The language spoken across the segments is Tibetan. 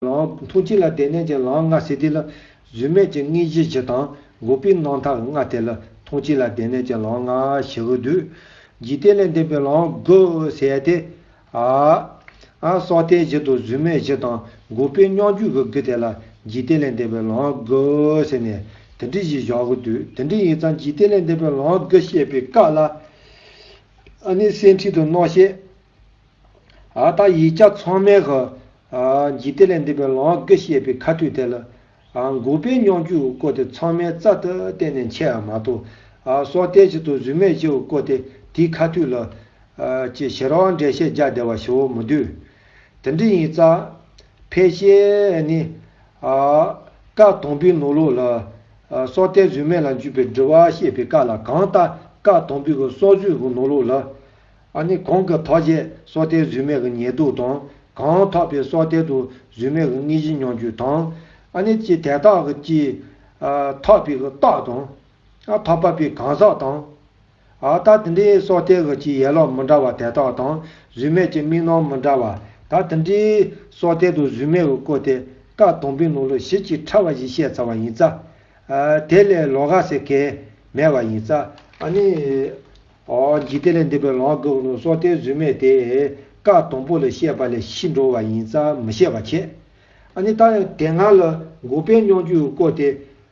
ལའང་ཐུགས་ཅི་ལ་བདེ་གནས་ཀྱི་ལའང་ལྔ་ཟེར་དུས་ལ། བཟོད་མེད་ཀྱི་ངེས་ཤེས་བཞི་དང་འགོག་པའི་སྣང་མཐའ་ལྔ་སྟེ་ལ། ཐུགས་ཅི་ལ་བདེ་གནས་ཀྱི་ལའང་ལྔ་ཞི་བའི་དུས། འཇིག་རྟེན་ལས་འདས་པའི་ལའང་དགུ་ཟེར་ཏེ། ཨ། ཨ་སོགས་ལྟའི་བཞི་དང་བཟོད་མེད་བཞི་དང་འགོག་པའི་སྙོམས་འཇུག་གི་དགུ་སྟེ་ལ། འཇིག་རྟེན་ལས་འདས་པའི་ལའང་དགུ་ཟེར་ནས་དེ་འདྲི་ཞེས་བཞག་གི་དུས་དེ་འདྲི་ཡིན་ཙང་འཇིག་རྟེན་ལས་འདས་པའི་ལའང་དགུ་བཤད་པའི་སྐབས་ལ། ཨ་ནི་སེམས་ཁྲིད་དུ་མནོག་བཤད། ཨ་ད་ཡིག་བརྒྱ་ཚང་མའི་ག་འགྱིག་དེ་ལས་འདས་པའི་ལོངས་སྐུ་བཤད་པའི་ཁ་མཐུད་དེ་ལ། འགུགས་པའི་སྙོགས་འཇུག་བཀོད་དེ་ཚང་མའི་རྩ་ལྟར་གཏན་ནས་འཆད་ཨ་མ་ཐུག། སྲོག་གཏད་བྱེད་དུ་གཟུད་མེད་བྱེད་བཀོད་དེ་དེའི་ཁ་མཐུད་ལ། ཅེས་ཞལ་རོའང་འགྲེལ་བཤད་རྒྱ་བདེ་བ་ཞུ་མི་འདོད། དེ་འདྲ་ཡིན་ཙང། ཕལ་ཆེར་ནི། བཀའ་དང་པོའི་ནོར་ལུག་ལ། སྲོག་གཏད་གཟུད་མེད་ལ་འཇུག་པའི་འདྲི་བ་བཤད་པའི་བཀའ་ལ་གང་ལྟ་བཀའ་དང་པོའི་སྲོག་གཟུད་ཀྱི་ནོར་ལུག་ལ། ཨ་ནི་གོང་གི་ཐོགས་བཅས་སྲོག་གཏད་རྫུན་མེད་ཀྱི་ཉལ་འདུག་དང་གང་ཐོགས་པའི་སྲོག་གཏད་དུ་རྫུན་མེད་ཀྱི་དངོས་གཞི་མྱོང་རྒྱུ་དང། ཨ་ནི་ཅི་དད་རྟགས་ཀྱི་ཅི། ཨ་ཐོགས་པའི་གྱི་རྟགས་དང། ཨ་ཐོགས་པ་པའི་གང་ཟག་དང། ཨ་ད་དེ་འདྲའི་སྲོག་གཏད་ཀྱི་ཅི་ཡས་ལོག་མི་འདྲ་བ་དད་རྟགས་དང་རྫུན་མེད་ཀྱི་དམིགས་ནོར་མི་འདྲ་བ། ད་དེ་འདྲའི་སྲོག་གཏད་དུ་རྫུན་མེད་ཀྱི་བཀོད་དེ་ཀ་དང་པོའི་ནང་ལོ་བཞི་གཅིག་ཕྲ་བ་བཞི་བཤད་ཚར་བ་ཡིན། རྩ་དེ་ལས་ལོ་ག་ཟེར་གས་མེད་བ་ཡིན། རྩ་ཨ་ནི། གྱིས་དེ་ལས་འདས་པའི་ལོང་བ་དགག་ནུ་སོགས་གཏེར་རྫུན་མེད་དེ། བཀའ་དང་པོ་ལས་བཤད་པ་ལས་ཤི་འགྲོ་བ་ཡིན་ཙང་མི་བཤད་པ་ཁྱད། ནི་ད་ཡང་དེ་སྔ་ལ་འགུགས་པའི་སྙོགས་འཇུག་བཀོད་དེ།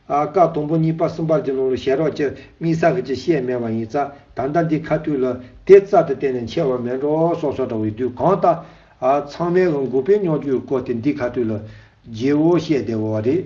བཀའ་དང་པོ་གཉིས་པ་གསུམ་པར་གྱི་ནང་ལ་ཞལ་རོགས་ཀྱི་དམིགས་བསལ་གྱིས་བཤད་མེད་པ་ཡིན་ཙང་ད་ལྟ་འདི་ཁ་ཐུག་ལ་དེ་རྩ་དང་གཏན་ནས་འཆལ་བ་མེད་འགྲོ་སོགས་སོགས་འདྲ་བའི་དུས་གང་ལྟ། ཚང་མའི་ལ་འགུགས་པའི་སྙོགས་འཇུག་བཀོད་དེ་འདི་ཁ་ཐུག་ལ། རྗེ་བོ་བཤད་བདེ་བོ་བ་རེད།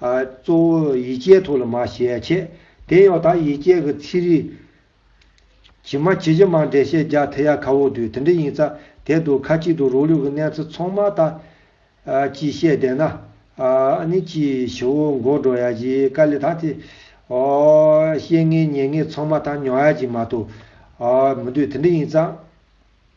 གཙོ་བོ་ཡིད་བྱེད་ཐུགས་ལ་མ་ཞལ་ཕྱེ། དེ་ཡང་དག་ཡིད་བྱེད་ཀྱི་ཚིག་རིས། ཇི་མ་ཇི་བཞིན་མ་འདྲེས་ཤེས་རྒྱ་དྷི་ཡ་གྷ་འོག་དུས་དེ་འདྲའི་ཡིན་ཙང་དེ་དུས་ཁ་ཅིག་ཏུ་རོ་ལུས་ཀྱི་གནས་ཚུལ་ཚང་མ་དག། ཅེས་བཤད་བསྡད་ན། ནི་ཅིའི་ཕྱིར་འོ་མགོ་འགྲོ་ཡ་བཞིའི་དཀའ་ལས་དང་དེ། ཤེས་ངེས་ཉན་ངེས་ཚང་མ་དང་མྱོང་ཡ་བཞིན་མ་གཏོགས། མི་འདོད་དེ་འདྲ་ཡིན་ཙང།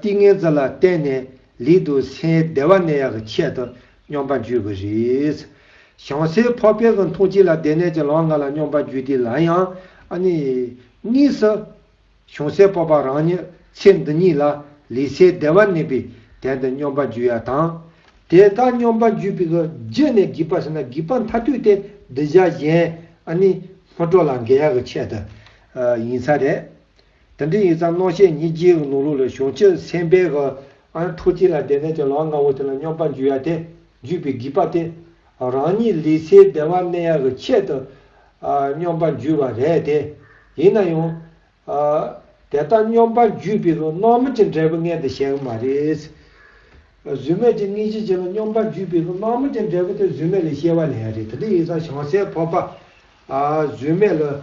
ཏིང་ངེ་འཛིན་ལ་བརྟེན་ནས་ལུས་དུག་སེལ་བདེ་བ་ནད་ཡག་གི་ཆེད་དུ་སྙོམས་པ་འཇུག་གི་རེད། བྱང་སེའི་ཕོ་དཔལ་གྱི་འཐུང་བྱེད་ལ་བདེ་ནད་ཀྱི་ལོང་ལྔ་ལ་སྙོམས་པ་འཇུག་དུས་ལ་ཡང། གཉིས་སུ། བྱང་སེའི་སྤོབས་པ་རང་ཉིད་ཚེ་འདི་ཉིད་ལ་ལུས་སེལ་བདེ་བ་གནས་པའི་དན་དུ་སྙོམས་པ་འཇུག་ཡ་དང། དེ་ལྟར་སྙོམས་པ་འཇུག་པའི་རྗེས་ནས་བགིག་པ་ཟིན་ན་བགིག་པ་མཐའ་དུས་ཏེ་བདུད་བྱ་གཞན། སྔོ་དྲོ་ལ་འགན་ཡག་གི་ཆེད་དུ་ཡིན་ས་རེད། དེ་འདྲའི་ཡིག་ཚང་གནོད་བྱེད་ཉིད་ཀྱིས་ནོར་ལུག་ལ་གཞུང་ཕྱིར་འཚེམ་པའི་ག། ཨང་ཕྲུག་གཅིག་ལ་བདེ་ལྡན་གྱི་ལག་ལྔ་བོ་དེ་ལ་སྙོམས་པར་འཇུག་ཡ་སྟེ། འཇུག་པའི་བགྱིས་པ་སྟེ། རང་ཉིད་ལུས་ཚེའི་བདེ་བ་གནས་ཡ་གི་ཆེད་དུ། སྙོམས་པར་འཇུག་པ་རེད་དེ། ཡིན་ན་ཡང། དེ་ལྟར་སྙོམས་པར་འཇུག་པའི་གི་སྣང་མེད་ཀྱི་འབྲས་བུ་མངལ་དུ་བྱེད་ཀྱི་མ་རེད། བཟོད་མེད་ཀྱི་གནས་ཀྱི་ཆེད་ལ་སྙོམས་པར་འཇུག་པའི་གི་སྣང་མེད་ཀྱི་འབྲས་བུ་དེ་བཟོད་མེད་ལས་སྐྱེ་བ་ལེན་ཡ་རེད་དེ་འདྲའི་ཡིག་ཚང་བྱང་སེའི་ཕོར་པ། བཟོད་མེད་ལ།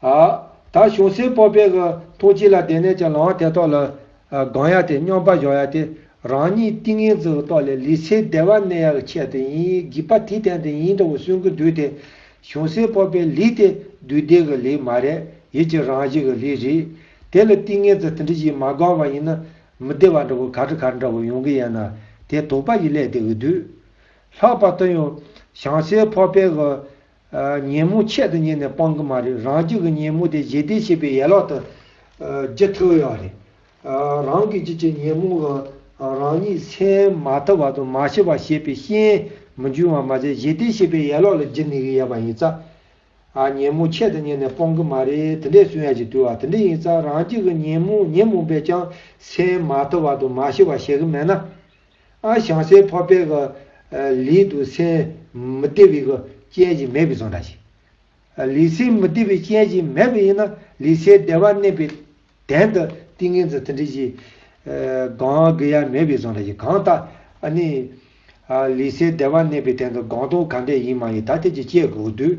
ཨ། ད་བྱུང་སའི་སྤོབས་པས་ཨི་ཐུགས་གཅིག་ལ་བདེ་གནས་ཀྱི་ལམ་དེ་ཐོག་ལ། གང་ཡག་སྟེ་སྙོམས་པ་གཞོག་ཡག་སྟེ། རང་ཉིད་ཏིང་ངེ་འཛིན་རྟོགས་ལས་ལུས་ཚེའི་བདེ་བ་གནས་ཡག་གི་ཆེད་དུ་ཡིན་བགྱིད་པ་དེ་དེང་དུ་ཡིན་འདྲ་བོ་སུན་གི་འདུག་དེ། བྱུང་སའི་སྤོབས་པའི་ལུས་དེ་བདུད་སྡེ་གི་ལུས་མ་རེད་ཡིད་ཀྱི་རང་བཞིན་གི་ལུས་རེད། དེ་ལ་ཏིང་ངེ་འཛིན་དེ་འདྲི་ཞིག་མ་དགོངས་པ་ཡིན་ན། མི་བདེ་བ་འདྲ་བོ་གར་གར་འདྲ་བོ་ཡོང་གི་ཡན་ན། དེ་དོགས་པ་ཞིག་སླེབས་བསྡད་གི་འདུག། ལྷག་པར་དུ་ཡང། བྱང་སའི་སྤོབས་པས་ཨི། ཉིན་མོ་ཆེད་དུ་ཉན་ནས་སྤང་གི་མ་རེད་རང་རྒྱུད་ཀྱི་ཉིན་མོ་དེ་རྗེས་འདེད་བྱེད་པའི་ཡས་ལག་ཏུ་བགྱི་ཐུབ་ཡོད་རེད། རང་གི་རྒྱུད་ཀྱི་ཉིན་མོ་གང་རང་ཉིད་ཚེ་མ་ཐུབ་བར་དུ་མ་ཤི་བར་ཞེས་པའི་ཤེས་ཡན་མི་འབྱུང་བར་མ་ཟད་རྗེས་འདེད་བྱེད་པའི་ཡས་ལོག་ལ་བགྱི་ནུས་ཀྱི་ཡོད་པ་ཡིན་ཙང། ཉིན་མོ་ཆེད་དུ་ཉན་ནས་སྤང་གི་མ་རེད་དེ་འདྲའི་གསུང་ཡ་གྱི་དུས་བ་དེ་འདྲ་ཡིན་ཙང་རང་རྒྱུད་ཀྱི་ཉིན་མོ་ཉིན་མོ་བས་ཀྱང་ཚེ་མ་ཐུབ་བར་དུ་མ་ཤི་བར་བྱེད་གི་མེད་ན། ཨ་ཞང་སའི་ཕ་པའི་ག་ལི་དུ་སེན་མི་ཏེ་བི་གི་ཅན་གྱི་མེད་བི་ཟོ་འདྲ་ཞིག། ལི་སེན་མི་ཏེ་བི་ཅན་གྱི་མེད་བི་ཡིན་ན་ལི་སའི་སྡེ་བ་གནས་པའི་དན་དུ་ཏིང་ངེ་འཛི་ཐི་འདྲི་ཞིག། གང་གི་ཡ་མེད་བི་ཟོ་འདྲ་ཞིག་གང་ལྟ་ཨ་ནི། ལི་སའི་སྡེ་བ་གནས་པའི་དན་དུ་གང་ཏོ་ག་འདྲས་ཡིན་མ་ཡིན་ད་ཐེ་ཅི་དཔྱད་དགོས་དུས།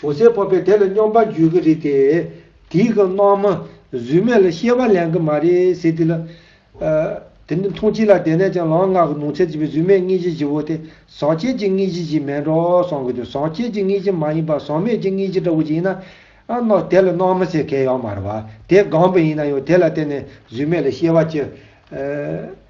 བྱུང་སའི་སྤོབས་པས་དེ་ལ་སྙོམས་པར་འཇུག་གི་རེད་དེ། དེའི་སྐབས་སྣང་མ་གཟུགས་མེད་ལ་ཤེས་པ་ལེན་གི་མ་རེད་ཟེར་དུས་ལ། དེ་འདི་མཐོང་ཅི་ལ་དེ་ནས་ཀྱང་ལངས་སྔགས་ཀྱི་ནོངས་འཚལ་བྱེད་པའི་གཟུགས་མེད་དངོས་གཞི་བཞི་བོ་དེ་ཟག་བཅས་ཀྱི་དངོས་གཞི་ཞིག་མིན་འགྲོ་བསམ་གྱི་འདུག་ཟག་བཅས་ཀྱི་དངོས་གཞི་མ་ཡིན་པར་ཟག་མེད་ཀྱི་དངོས་གཞི་འདྲ་བོ་ཞིག་ཡིན་ན། དེ་ལ་སྣང་མ་ཟེར་གལ་ཡང་མ་རེད་བ། དེ་སྒང་པོ་ཡིན་ན་ཡང་དེ་ལ་བརྟེན་ནས་གཟུགས་མེད་ལ་ཤེས་པ་ཅི།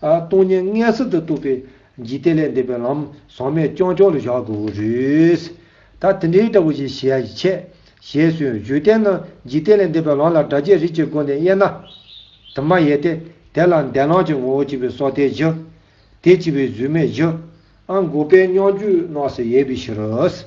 སྟོང་ཉིད་མངལ་གསུམ་དུ་གཏུགས་པའི་འཇིག་རྟེན་ལས་འདས་པའི་ལམ་ཟང་མའི་སྐྱོང་ཕྱོགས་ལ་བཞག་དགོས་པར་རིགས། ད་དེ་འདྲའི་སྐྲ་བོ་ཞིག་བྱས་ཀྱི་ཆད། ཞེས་སུ་བརྗོད་བསྟན་ན་འཇིག་རྟེན་ལས་འདས་པའི་ལམ་ལ་སྒྲ་བྱས་རིགས་ཀྱི་སྒོ་ནས་དབྱེ་ན། དུ་མ་ཡལ་ཏེ། དེ་ལ་འདས་ལམ་གྱི་ངོ་བོ་གཅིག་པའི་སྲོག་ཐལ་བཞི། དེ་གཅིག་པའི་གཟུགས་མེད་བཞི། ཨང་དགུ་པའི་སྙོམས་འཇུག་སྣང་སྲིད་དབྱེ་བའི་ཕྱིར།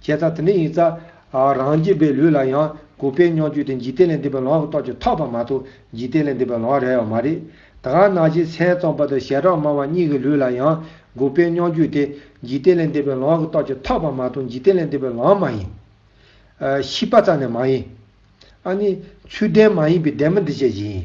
བྱས་ཙང་དེ་འདྲ་ཡིན་ཙང། རང་རྒྱལ་པའི་ལུས་ལ་ཡང་གུས་པས་སྙོགས་རྒྱུ་དེ་འཇིག་རྟེན་ལས་འདས་པའི་ལོང་བ་གི་རྟོགས་ཀྱི་ཐོག་པ་མ་གཏོགས་འཇིག་རྟེན་ལས་འདས་པའི་ལོང་བ་རེད་ཡོད་མ་རེད། དགའ་ན་རྗེས་མཚན་རྩོམ་པ་དང་ཞལ་གྲངས་མང་བ་གཉིས་ཀྱི་ལུས་ལ་ཡང་གུས་པས་སྙོགས་རྒྱུ་དེ་འཇིག་རྟེན་ལས་འདས་པའི་ལོང་བ་གི་རྟོགས་ཀྱི་ཐོག་པ་མ་གཏོགས་འཇིག་རྟེན་ལས་འདས་པའི་ལོང་བ་མ་ཡིན། ཤི་པ་ཙམ་ནས་མ་ཡིན། ཨ་ནི། ཚུལ་ལྡན་མ་ཡིན་པའི་ལྡན་མིན་འདི་བྱས་ཀྱི་ཡིན།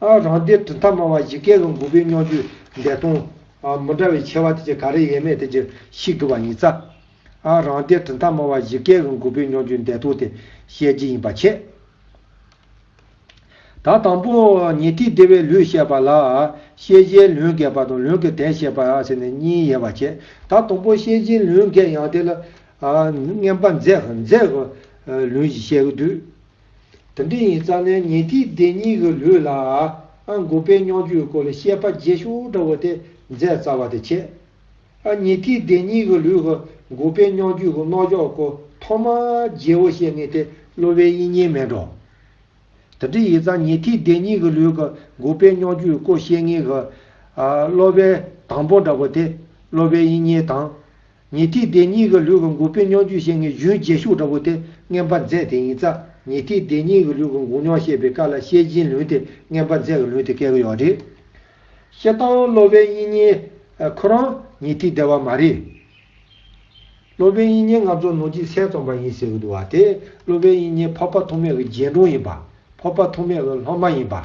རང་སྡེའི་གྲུབ་མཐའ་སྨྲ་བ་བཞི་ཀའི་ལོ་མགོ་བོའི་སྨྱོ་རྒྱུ་འདས་སྟོང། མི་འདྲ་བའི་ཆེ་བ་དེ་ཅི་ག་རེ་ཡས་མས་དེ་ཅི་ཞིག་དུ་བ་ཉི་ཚ། རང་སྡེའི་གྲུབ་མཐའ་སྨྲ་བ་བཞི་ཀའི་ལོ་མགོ་བོའི་སྨྱོ་རྒྱུ་འདས་སྟོང་དེ་བཤད་ཅི་ཡིན་པ་ཆད། ད་དང་པོ་ཉི་ཐིག་སྡེ་བའི་ལུས་བཤད་པ་ལ། ཤེས་བྱའི་ལུས་འགས་པ་དང་ལུས་ཀྱི་དན་བཤད་པ་ཟེར་ནས་གཉིས་ཡས་པ་ཆད། ད་དང་པོ་ཤེས་བྱའི་ལུས་འགས་ཡང་དེ་ལ། བསྙེན་པ་མཛད། ལུས་བཤད་དུས། དེ་འདྲ་ཡིན་ཙང་ནས་ཉེ་དུས་སྡེ་གཉིས་ཀྱི་ལུས་ལ་ཨ་འགོག་པའི་སྙོག་འཇུག་སྐོར་ལ་བཤད་པ་རྗེས་ཤུལ་འདྲ་བོ་དེ་མཛད་རྩ་བ་དེ་ཁྱེད། ཨ་ཉེ་དུས་སྡེ་གཉིས་ཀྱི་ལུས་ཀྱི་འགོག་པའི་སྙོག་འཇུག་གི་རྣོ་འཇོག་སྐོར་ཐོག་མ་རྗེ་བོ་བཤད་ངེས་དེ་གློ་བའི་དབྱིན་ཉིན་མེད་འགྲོ། དེ་འདྲ་ཡིན་ཙང་ཉེ་དུས་སྡེ་གཉིས་ཀྱི་ལུས་ཀྱི་འགོག་པའི་སྙོག་འཇུག་སྐོར་བཤད་ངེས་གི། གློ་བའི་དང་པོ་འདྲ་བོ་དེ་གློ་བའི་དབྱིན་ཉིན་དང། ཉི་ཐིག་སྡེ་གཉིས་ཀྱི་ལུས་ཀྱི་འགུགས་སྤེལ་མྱོང་བརྒྱུད་ཤེས་ངེས་རྒྱུན་རྗེས་ཤུགས་འདྲ་བོ་དེ་རྔན་པ་མཛད་དེ་ཡིན་ཙང་ཉི་ཐིག་སྡེ་གཉིས་ཀྱི་ལུས་ཀྱི་འགུགས་མྱོང་ཤེས་པའི་བཀའ་ལ་ཤེས་སྦྱིན་ལུན་དེ་རྔན་པ་མཛད་ཀྱི་ལུན་དེ་བཀལ་གྱི་ཡོག་རེད། ཤེས་དང་སློབ་དཔོན་དབྱིན་གཉེན། ཁོ་རང་ཉི་ཐིག་སྡེ་བ་མ་རེད། སློབ་དཔོན་དབྱིན་གཉེན་ང་ཚོ་ནོར་གྱི་སའི་རྩོམ་པ་ཡིན་ཟེར་གྱི་འདུག་བ་དེ་སློབ་དཔོན་དབྱིན་གཉེན་ཕོར་པ་ཐོགས་མེད་ཀྱི་རྗེས་འབྲང་ཡིན་པ། ཕོར་པ་ཐོགས་མེད་ཀྱི་སློབ་མ་ཡིན་པ།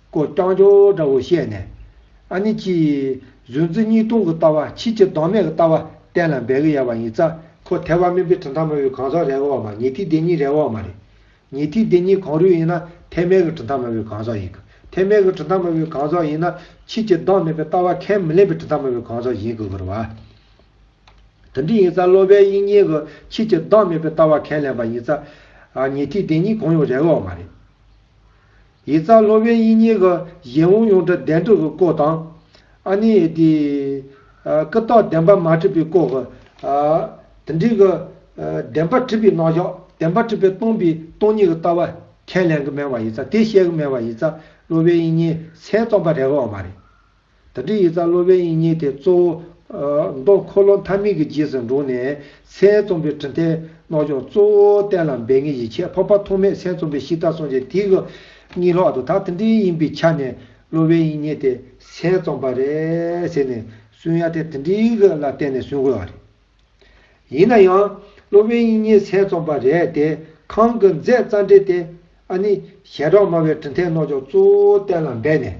ཀོ་རྐྱང་ཅོག་འདྲ་བོ་བཤད་ནས། ཨ་ནི་ཅི། བཟོད་འཛི་གཉིས་སྟོང་གི་ལྟ་བ་ཕྱིས་ཀྱི་ལྡོག་མེད་ཀྱི་ལྟ་བ་གཏན་ལ་འབེབས་གི་ཡ་བ་ཡིན་ས། ཁོ་ཐལ་བ་སྨིན་པའི་གྲི་མཐའ་མ་བོའི་གང་ཟག་རེག་འོག་མ་ཉི་ཐིག་དེ་གཉིས་རེག་འོག་མ་རེད། ཉི་ཐིག་དེ་གཉིས་གང་རུས་ཡིན་ན་ཐལ་མེད་ཀྱི་གྲི་མཐའ་མ་བོའི་གང་ཟག་ཡིན་གི། ཐལ་མེད་ཀྱི་གྲི་མཐའ་མ་བོའི་གང་ཟག་ཡིན་ན། ཕྱིས་ཀྱི་ལྡོག་མེད་པའི་ལྟ་བ་ཁས་མི་ལེན་པའི་གྲི་མཐའ་མ་བོའི་གང་ཟག་ཡིན་གི་གུ་རུ་བ། དེ་འདྲ་ཡིན་ས་སློབ་པའི་དབྱིངས་ཉིད་ཀྱི་ཕྱིས་ཀྱི་ལྡོག་མེད་པའི་ལྟ་བ་ཁས་ལེན་པ་ཡིན་ས། ཉི་ཐིག་དེ་གཉིས་གང་ཡང་རེག་འོག་མ་རེད། ཡིག་ཚགས་སློབ་དཔོན་དབྱིན་གཉིས་ཀྱི་གཞན་དབུང་ཡོངས་གྲགས་གདན་དྲུག་གི་སྐོར་དང། ཨ་ནི། ཀི་རྟགས་བདེན་པ་མ་བྲིས་པའི་སྐོར་གྱི། དེ་འབྲེལ་གྱི། བདེན་པ་བྲིས་པའི་རྣམ་གཞག་བདེན་པ་བྲིས་པའི་སྟོང་པའི་སྟོང་ཉིད་ཀྱི་ལྟ་བ། ཁས་ལེན་གྱི་སྨྲས་བ་ཡིག་ཚགས་དེ་བཤད་ཀྱི་སྨྲས་བ་ཡིག་ཚགས་སློབ་དཔོན་དབྱིན་གཉིས་ཚད་རྩོམ་པ་རེ་བའང་མ་རེད། ད་ཏྲི་ཡི་རྩ་སློབ་པའི་དབྱིངས་ཉིད་དེ་གཙོ་བོ། མདོ་འཁོར་ལོ་མཐའ་མིག་གི་རྗེས་སུ་འགྲོ་ནས། མཚན་རྩོམ་པའི་དྲི་མཐའི་རྣོ་ལྗོངས་གཙོ་བོ་གཏན་ལ་འབེབས་ངེས་ཀྱི་ཁྱད་འཕགས་པ་ཐོགས་མེད་མཚན་རྩོམ་པའི་གཤིས་རྟགས་སོང་རྗེས་དེའི་སྐུ་ཉིད་ལྷག་ཏུ་ད་ཏྲི་ཡིན་པའི་ཆ་ནས་སློབ་པའི་དབྱིངས་ཉིད་དེ་མཚན་རྩོམ་པ་རེད་ཟེར་ནས་སུན་ཡ་དེ་ཏྲི་ལ་བརྟེན་ནས་སུན་དགོས་བ་རེད། ཡིན་ན་ཡང། སློབ་པའི་དབྱིངས་ཉིད་མཚན་རྩོམ་པ་རེད་དེ་གང་གི་མཛད་རྩ་འགྲེལ་དེ། ཨ་ནི། ཞལ་གྲངས་སྨྲ་བའི་དྲི་མཐའི་རྣོ་ལྗོངས་གཙོ་བོ་གཏན་ལ་འབེབས་ནས།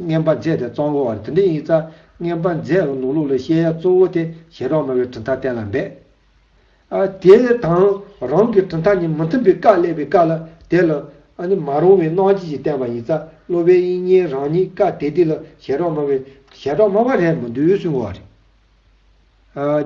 རྔན་པ་མཛེས་དེ་གཙང་བོ་བར་དུ་འདྲེན་ཡིག་རྩ། རྔན་པ་མཛེས་རོང་ནོར་ལུག་ལ་བཤད་ཡ་གཙོ་བོ་དེ་ཞལ་རོགས་མ་བའི་གྲི་མཐའ་གཏན་ལ་འབེབས། ཨ། དེ་དང་རང་གི་གྲི་མཐའ་ནི་མི་མཐུན་པའི་བཀའ་གླས་པའི་བཀའ་ལ་དེ་ལ་ཨ་ནི་མ་རུང་བའི་སྣང་བྱེད་ཀྱི་བསྟན་པ་ཡིན་རྩ་སློབ་བའི་དབྱིག་གཉེན་རང་ཉིད་བཀའ་དེ་དེ་ལ་ཞལ་རོགས་མ་བའི་ཞལ་གྲོགས་མ་བ་རེད་མི་འདུག་ཟུང་བ་རེད།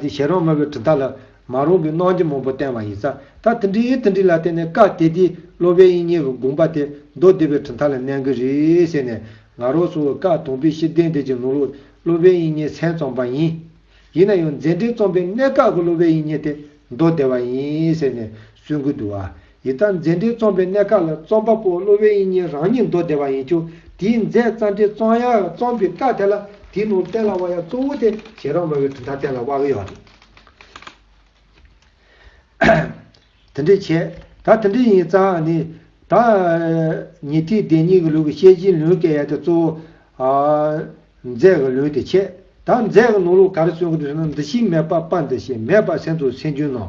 ཀྱི་ཞལ་རོང་མོ་བའི་གྲི་མཐའ་ལ། མ་རུངས་པའི་གནོང་འགྱོད་མང་པོ་བསྟན་བ་ཡིན། ས་ཐི་འབྲི་ཡི་ཐི་འབྲི་ལ་བརྟེན་ནས་བཀའ་གཏད་དེ། སློབ་དཔོན་དབྱིག་གཉེན་རུ་དགོངས་པ་དེ། མདོ་སྡེ་པའི་གྲི་མཐའ་ལ་གནན་གྱི་རེད་ཟེར་ནས། ང་རོ་སོ་བོའི་བཀའ་དོང་པའི་ཤེས་ལྡན་འདས་ཀྱི་ནོར་ལུགས། སློབ་དཔོན་དབྱིག་གཉེན་མཚན་བཙོངས་པ་ཡིན། ཡིན་ན་ཡང་མཛད་འཕྲིན་རྩོམ་པའི་གནད་འགག་གི་སློབ་དཔོན་དབྱིག་གཉེན་དེ། མདོ་སྡེ་བ་ཡིན་ཟེར་ནས་སུན་ཀུན་ཏུ་བ། ཡི་དམ་མཛད་འཕྲིན་རྩོམ་པའི་གནས་ཁག་ལ་རྩོམ་པ་པོ་གློ་བའི་དབྱིན་གཉེན་རང་ཉིད་མདོ་སྡེ་བ་ཡིན་ཀྱང་དེའི་མཛད་རྩ་འབྲི་རྩོམ་ཡང་རྩོམ་པའི་སྐབས་དེ་ལ་དེའི་ནང་གཏན་ལ་བ་ཡང་གཙོ་བོ་དེ་བྱེད་རང་མོས་པའི་གྲུབ་མཐའ་གཏན་ལ་བ་གི་ཡོད་རེད། དེ་འདྲས་བྱས། ད་དེ་འདྲས་ཡིན་ཙང་ནི། ད། ཉི་ཐིག་སྡེ་གཉིས་ཀྱི་ལུགས་ཀྱི་ཤེས་བྱའི་ལུང་བསྟན་ཡ་དེ་གཙོ་བོ། མཛད་ཀྱི་ལུང་དེ་ཆེད། ད་མཛད་ཀྱི་ནང་ལུགས་ག་རེ་གསུང་གི་འདུག་ཟེར་ན་འདི་ཞིག་མེད་པ་པ་འདི་ཞིག་མེད་པ་སེམས་ཚོར་སེམས་རྒྱུན་ནང།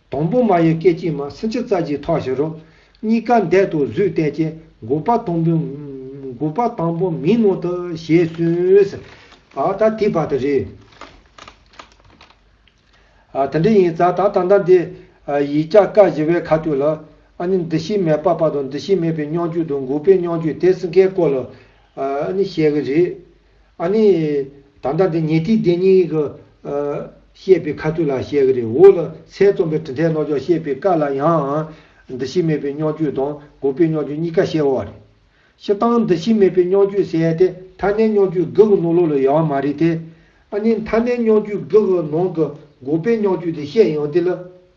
དང་པོ་མ་ཡི་སྐད་ཅིག་མ་སུན་ཕྱི་རྩ་གཅིག་ཐོགས་བཞི་རོ། གཉིས་ཀ་འདས་དུ་བཟོད་གཏད་སྐྱེ་འགོག་པ་དང་པོ། འགོག་པ་དང་པོ་མིན་ནོ་ད་ཞེས་གསུངས། ཨཱ་ད་དེ་བར་དུ་རེད། དེ་འདྲ་ཡིན་ཙང་ད་ད་ལྟ་འདི། ཡིག་བརྒྱ་ཀ་བཞི་བའི་ཁ་སྟོད་ལ། ཨཱ་ནི་འདི་ཤི་མེད་པ་བར་དུ་འདི་ཤི་མེད་པའི་སྙོང་བརྒྱུད་དུ་འགོག་པའི་སྙོང་བརྒྱུད་དེ་སུ་འགལ་སྐོར་ལ། ཨཱ་ནི་བཤད་གི་རེད། ཨཱ་ནི། ད་ལྟ་འདི་ཉེ་ཐིག་བདེན་གཉིས་ཀྱི། བཤད་པའི་ཁ་ཚུལ་ལ་བཤད་གི་རེད་འོ་ལ་ཚད་རྩོམ་པའི་དྲི་མཐའི་ལོག་ཕྱོགས་བཤད་པའི་བཀའ་ལ་ཡང། འདུ་ཤེས་མེད་པའི་སྙོགས་འགྱུས་དང་གོ་བའི་སྙོགས་འགྱུས་གཉིས་ཀ་བཤད་འོ་རེད། ཤི་སྟངས་འདུ་ཤེས་མེད་པའི་སྙོགས་འགྱུས་ཟེར་ཡ་དེ་མཐའ་སྣེའི་སྙོགས་འགྱུས་དགག་གི་ནོར་ལོག་ལ་ཡལ་བ་མ་རེད་དེ། ཨཱ་ནི་མཐའ་སྣེའི་སྙོགས་འགྱུས་དགག་གི་ནང་གི་གོ་བའི་སྙོགས་འགྱུས་དེ་བཤད་ཡོང་དེ་ལ།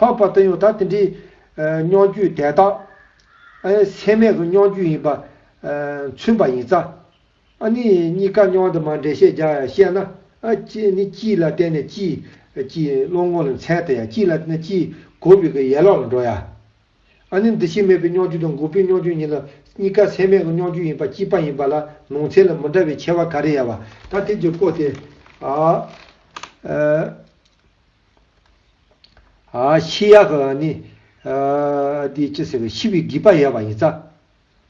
ལྷག་པར་དུ་ཡང་ད་དེ་འདྲའི་སྙོགས་རྒྱུད་དེ་དག་སེམས་མེད་ཀྱི་སྙོགས་རྒྱུད་ཡིན་པ་མཚོན་པ་ཡིན་ཙང། ནི་གཉིས་ཀ་སྙོགས་དུ་མ་འགྲེལ་བཤད་རྒྱག་ཡང་བཤད་ན། ནི་སྤྱི་ལ་བརྟེན་ནས་སྤྱིའི་སྤྱིའི་བློ་ངོ་ལ་མཚན་དང་ཡང་སྤྱི་ལ་བརྟེན་ནས་སྤྱིའི་གོ་བའི་གི་ཡས་ལོག་ལ་འགྲོ་ཡང། ནི་འདུ་ཤེས་མེད་པའི་སྙོགས་རྒྱུད་དང་འགོག་པའི་སྙོགས་རྒྱུད་གཉིས་ལ་གཉིས་ཀ་སེམས་མེད་ཀྱི་སྙོགས་རྒྱུད་ཡིན་པ་སྤྱི་པ་ཡིན་པ་ལ་ལུང་ཚད་ལ་མི་འདྲ་བའི་ཁྱད་བར་ག་རེ་ཡལ་བ། ད་དེ་རྒྱུ་སྤོ་སྟེ། ཤི་ཡག་གི་ནི། དེ་ཅི་ཟེར་བའི་ཤི་བའི་དགེས་པ་ཡལ་བ་ཡིན་ས།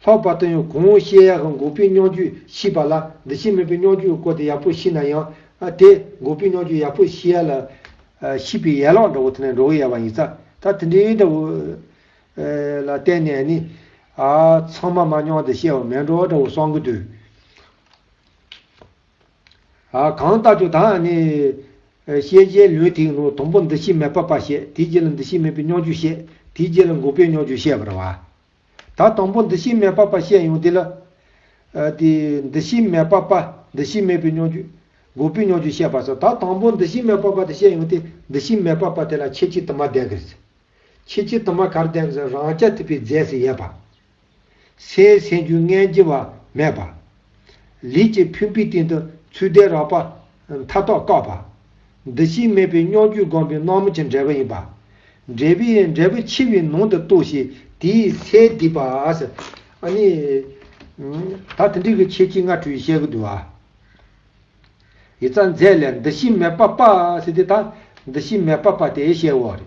ལྷག་པར་དུ་ཡང་གོང་ཤི་ཡག་གི་འགོག་པའི་སྙོགས་རྒྱུས་ཤི་བ་ལ་འདི་ཤི་མེད་པའི་སྙོགས་རྒྱུས་བཀོལ་ཏེ་ཡག་པོ་ཤི་ན་ཡང། དེ་འགོག་པའི་སྙོགས་རྒྱུས་ཡག་པོ་ཤི་ཡ་ལ། ཤི་བའི་ཡལ་ལོག་འདྲ་བོ་དེ་ནས་འགྲོ་བས་ཡལ་བ་ཡིན་ས། ད་དེ་འདྲའི་འདྲ་བོ། ལ་བརྟེན་ནས་ནི། ཚང་མ་མ་སྙོགས་འདི་ཤི་བ་མེད་འགྲོ་འདྲ་བོ་གསང་གི་དུས། གང་ལྟ་ཆུ་དང་ནི། ཤེས་བྱའི་ལུས་ཐིག་ནོར་དང་པོ་འདི་ཕྱི་མེ་སྤར་པ་ཤེས་དེའི་རྗེས་ལ་འདི་ཕྱི་མེད་པའི་སྙོགས་འཇུག་ཤེས་དེའི་རྗེས་ལ་འགོག་པའི་སྙོགས་འཇུག་ཤེས་པར་བ། ད་དང་པོ་འདི་ཕྱི་མེ་སྤར་པ་ཤེས་ཡོང་དེ་ལ། དེ་འདི་ཕྱི་མེ་སྤར་པ་འདི་ཕྱི་མེད་པའི་སྙོགས་འཇུག། འགོག་པའི་སྙོགས་འཇུག་ཤེས་པར་བྱ། ད་དང་པོ་འདི་ཕྱི་མེ་སྤར་པ་དེ་ཤེས་ཡོང་དེ་འདི་ཕྱི་མེ་སྤར་པ་དེ་ལ་ཕྱེད་ཕྱི་དུ་མ་བདེན་གིར་བྱེད། ཕྱེད་ཕྱི་དུ་མ་གར་བདེན་གིར་བྱེད་རང་སྐྱ་ཐིབས་པའི་རྫས་སུ་ཡལ་བ། སའི་སེམས་རྒྱུད་ལྔའི་སྐྱེ་བ་མེད་པ། ལུས་ཀྱི་ཕུད་འབུས་སྟེང་དུ་ཚུལ་ལྡན་རགས་པ་མཐའ་རྟོག་བཀག་པ། འདུ་ཤེས་མེད་པའི་སྙོགས་རྒྱུས་བསྒོམས་པའི་སྣང་མུན་གྱི་འབྲས་བུ་ཡིན་པ། འབྲས་བུ་ཡི་འབྲས་བུ་འཆི་བའི་ནང་དུ་གཏུགས་ཤིང་དེའི་ཚེ་སྡིག་པ། ད་དེ་འདྲི་གི་ཁྱེད་ཀྱིས་སྔ་དྲོའི་བཤད་གི་འདུག་ཨ། ཡི་རྩ་མཛད་ལས་འདུ་ཤེས་མེད་པ་པ་སེ་དེ་ད་འདུ་ཤེས་མེད་པ་པ་དེ་བཤད་འོག་རེད།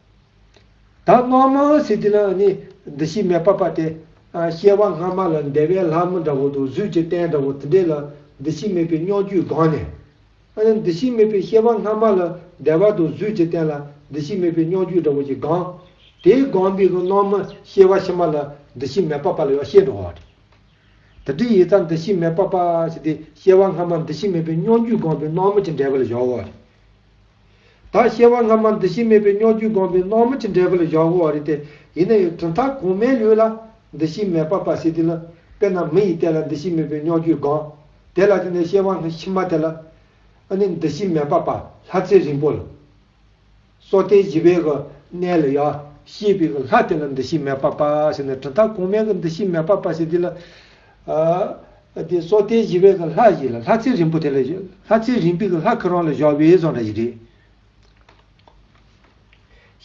བདག་དབང་མ་ཟིན་དེ་ལ་ནི་འདུ་ཤེས་མེད་པར་པ་དེ། སྐྱེ་བ་སྔ་མ་ལ་འདས་པའི་ལྷ་མོ་འདྲ་བོ་དང་གཟུགས་ཀྱི་རྟེན་འདྲ་བོ་དེ་འདྲས་ལ་འདུ་ཤེས་མེད་པའི་སྙོགས་རྒྱུས་དགོངས་ནས། འདུ་ཤེས་མེད་པའི་སྐྱེ་བ་སྔ་མ་ལ་འདས་པ་དང་གཟུགས་ཀྱི་རྟེན་ལ་འདུ་ཤེས་མེད་པའི་སྙོགས་རྒྱུས་འདྲ་བོ་ཞེས་དགང། དེ་དགང་པའི་སྔོན་མ་སྐྱེ་བ་ཕྱི་མ་ལ་འདུ་ཤེས་མེད་པར་པ་ལ་ཡང་ཤེས་འགྲོ་བ། དེ་དྲིས་ཡིད་རྩ་འདུ་ཤེས་མེད་པར་པ་ཞེས་ཏེ་སྐྱེ་བ་སྔ་མ་འདུ་ཤེས་མེད་པའི་སྙོགས་རྒྱུས་དགང་པའི་སྔོན་མ་ཅི་འདྲས་པ་ལ་བཞག་འོ། དག་ཤེས་པ་སྔ་མ་འདུ་ཤེས་མེད་པའི་སྨྱོ་རྒྱུས་སྒོམ་པའི་སྣང་མུན་གྱི་འབྲས་བུ་ལ་བཞག་འོང་བ་རེད་དེ། ཡིན་ན་ཡང་གྲུབ་མཐའ་གོང་མའི་ལུས་ལ་འདུ་ཤེས་མེད་པར་པར་བྱེད་དུས་ན། དཔེར་ན་མི་ཡི་སྟན་ལ་འདུ་ཤེས་མེད་པའི་སྨྱོ་རྒྱུས་སྒོམ། དེ་ལ་དེ་ནས་ཤེས་པ་སྔ་ཕྱི་མ་དེ་ལ། ཨ་ནི་འདུ་ཤེས་མེད་པར་པ་ལྷ་ཚེ་རིང་པོ་ལ། སོ་སྟེ་བཞི་པའི་གི་གནས་ལ་ཡང་ཤེས་པའི་གི་ལྷ་དེ་ལ་འདུ་ཤེས་མེད་པར་པར་བྱེད་ན་གྲུབ་མཐའ་གོང་མའི་གི་འདུ་ཤེས་མེད་པར་པར་བྱེད་དུས་ལ། དེ་སྲོག་ལྟའི་བཞི་པའི་གི་ལྷ་ཞིག་ལ་ལྷ་ཚེ་རིང་པོ་དེ་ལ་ལྷ་ཚེ་རིང་པོའི་གི་ལྷ་ཁི་རོང་ལ་བཞག་བའི་བཟང་འདྲ་ཞིག་རེད།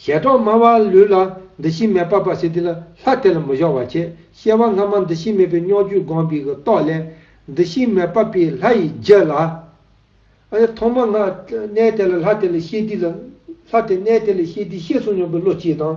ཞལ་གྲོགས་སྨྲ་བ་ལུས་ལ་འདུ་ཤེས་མེད་པ་པ་སེ་དེ་ལ་ལྷ་དེ་ལ་མི་བཞག་བ་ཁྱེད་ཤེས་བ་སྔ་མ་འདུ་ཤེས་མེད་པའི་སྙོགས་ཇུས་སྒོམ་པའི་གི་རྟོག་ལས། འདུ་ཤེས་མེད་པ་པའི་ལྷ་ཡི་རྒྱུད་ལ། ཨཱ་ཐོག་མ་སྔ་གནས་དེ་ལ་ལྷ་དེ་ལ་ཤེས་དུས་ལ་ལྷ་དེ་གནས་དེ་ལ་ཤེས་དུས་ཤེས་གསུངས་མྱོང་པའི་བློ་སྐྱེས་དང།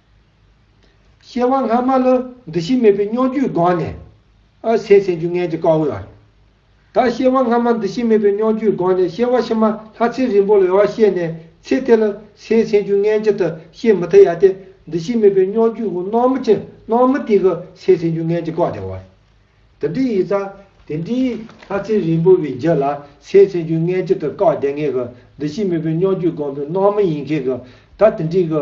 ཤེར་དབང་སྔ་མ་ལ་འདུ་ཤེས་མེད་པའི་སྙོམས་འཇུག་སྒོ་ནས། ཨ་སེ་སེམས་བྱུང་ངན་གྱི་ཀ་བའི་བར། ད་ཤེར་དབང་སྔ་མ་འདུ་ཤེས་མེད་པའི་སྙོམས་འཇུག་སྒོ་ནས་ཤེར་བ་ཕྱི་མ་ལྷ་ཚེ་རིང་པོ་ལ་ཡོད་བཤད་ནས་ཚེ་དེ་ལ་སེ་སེམས་བྱུང་ངན་གྱི་དུ་ཤེས་མི་ཐུབ་ཡ་སྟེ་འདུ་ཤེས་མེད་པའི་སྙོམས་འཇུག་གི་སྣང་མུ་ཅན་སྣང་མུ་སྟེགས་ཀྱི་སེ་སེམས་བྱུང་ངན་གྱི་ཀ་བའི་བར། དེ་འདྲའི་ཡིག་ཚང་དེ་འདྲའི་ལྷ་ཚེ་རིང་པོ་བའི་རྒྱུད་ལ་སེ་སེམས་བྱུང་ངན་གྱི་དུ་ཀ་བདེན་ངེས་ཀྱི་འདུ་ཤེས་མེད་པའི་སྙོམས་འཇུག་སྒོམ་པའི་སྣང་མུ་ཡིན་མཁན་གྱི་ད་དེ་འདྲའི་གི།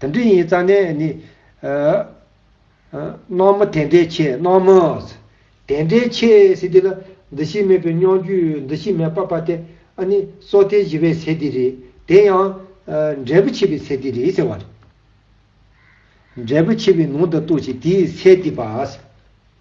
དེ་འདྲ་ཡིན་ཙང་ནས་ནི། སྣང་མུ་དེ་འདྲའི་ཆེ་སྣང་མུས། དེ་འདྲའི་ཆེ་སྲིད་དེ་ལ། འདུ་ཤེས་མེད་པའི་སྙོང་རྒྱུད་འདུ་ཤེས་མེད་པ་པ་སྟེ། ཨ་ནི། སྲོག་ཐལ་བཞི་པའི་ཚེ་འདི་རེད། དེ་ཡང། འབྲས་བུ་ཆེ་བའི་ཚེ་འདི་རེད་ཟེར་བ་རེད། འབྲས་བུ་ཆེ་བའི་ནང་དུ་གཏོགས་ཀྱི་དེའི་ཚེ་འདི་པ།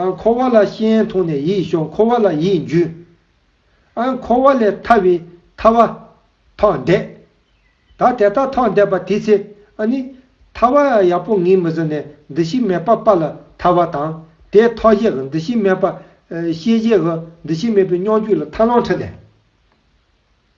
ཨང། འཁོར་བ་ལ་ཤེས་ཡན་མཐོང་ནས་ཡིད་ཞོག་འཁོར་བ་ལ་ཡིད་འཇུས། ཨང། འཁོར་བ་ལས་ཐར་བའི་ཐར་བ། ཐོག་འདས། ད་དེ་ལྟར་ཐོག་འདས་པ་དེའི་ཚེ་ཨ་ནི། ཐར་བ་ཡག་པོ་ངེས་མི་བཟོད་ནས་འདི་ཤི་མེད་པ་པ་ལ་ཐར་བ་དང། དེའི་ཐོག་གཞི་འི་འདི་ཤི་མེད་པ། ཤེས་བྱའི་འི་འདི་ཤི་མེད་པའི་སྙོགས་འཇུག་ལ་ཐར་ལོངས་ཕྲི་ལས།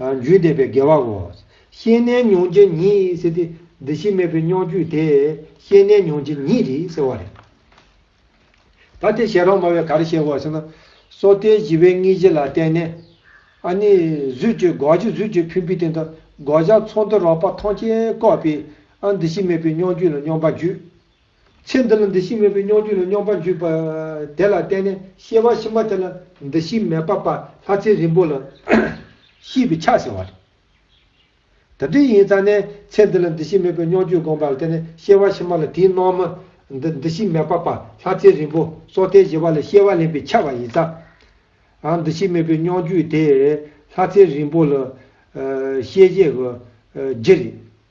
རྒྱུད་འདེབས་པའི་དགེ་བའོ། ཤེས་གནས་མྱོང་བྱེད་ཉིད་ཟེར་ཏེ། འདི་ཕྱི་མེད་པའི་མྱོང་བརྒྱུད་དེ། ཤེས་གནས་མྱོང་བྱེད་ཉིད་རེད་ཟེར་བ་རེད། ད་དེ་བཤད་རོགས་སྨྲ་བས་ག་རེ་བཤད་དགོས་ཟེར་ན། སོ་ཐའི་བཞི་བའི་དངོས་གཞི་ལ་བརྟེན་ནས། ཨ་ནི། གཟུད་བཅོས་འགོག་བྱེད་གཟུད་བཅོས་ཕུད་འབུད་དེ་འདྲ་འགོག་བྱ་ཚོགས་འདུ་རོགས་པ་ཐོངས་བཅས་བཀོད་པས། ཨ་འདི་ཕྱི་མེད་པའི་མྱོང་བརྒྱུད་ལ་སྙོམས་པ་བརྒྱུད། ཚེ་འདི་ལ་འདུ་ཤེས་མེད་པའི་སྙོམས་འཇུག་ལ་སྙོམས་པར་འཇུག་པ་དེ་ལ་བརྟེན་ནས་ཤེས་པ་ཕྱི་མ་དེ་ལ་འདུ་ཤེས་མེད་པ་པ་ལྷ་ཚེ་རིང་པོ་ལ་ཤེས་པའི་ཆ་ཟེར་བ་རེད། ད་དུས་ཡིན་ཙང་ནས་ཚེ་འདི་ལ་འདུ་ཤེས་མེད་པའི་སྙོམས་འཇུག་བསྒོམས་པ་ལ་བརྟེན་ནས་ཤེས་པ་ཕྱི་མ་ལ་དེའི་སྣང་མུན་འདི་འདུ་ཤེས་མེད་པ་པ་ལྷ་ཚེ་རིང་པོ་སྲོག་ཐལ་བཞི་བ་ལ་ཤེས་པ་ལེན་པའི་ཆ་བ་ཡིན་ཙང། འདུ་ཤེས་མེད་པའི་སྙོམས་འཇུག་དེ་ལྷ་ཚེ་རིང་པོ་ལ་ཤེས་བྱའི་རྒྱུ་རེད།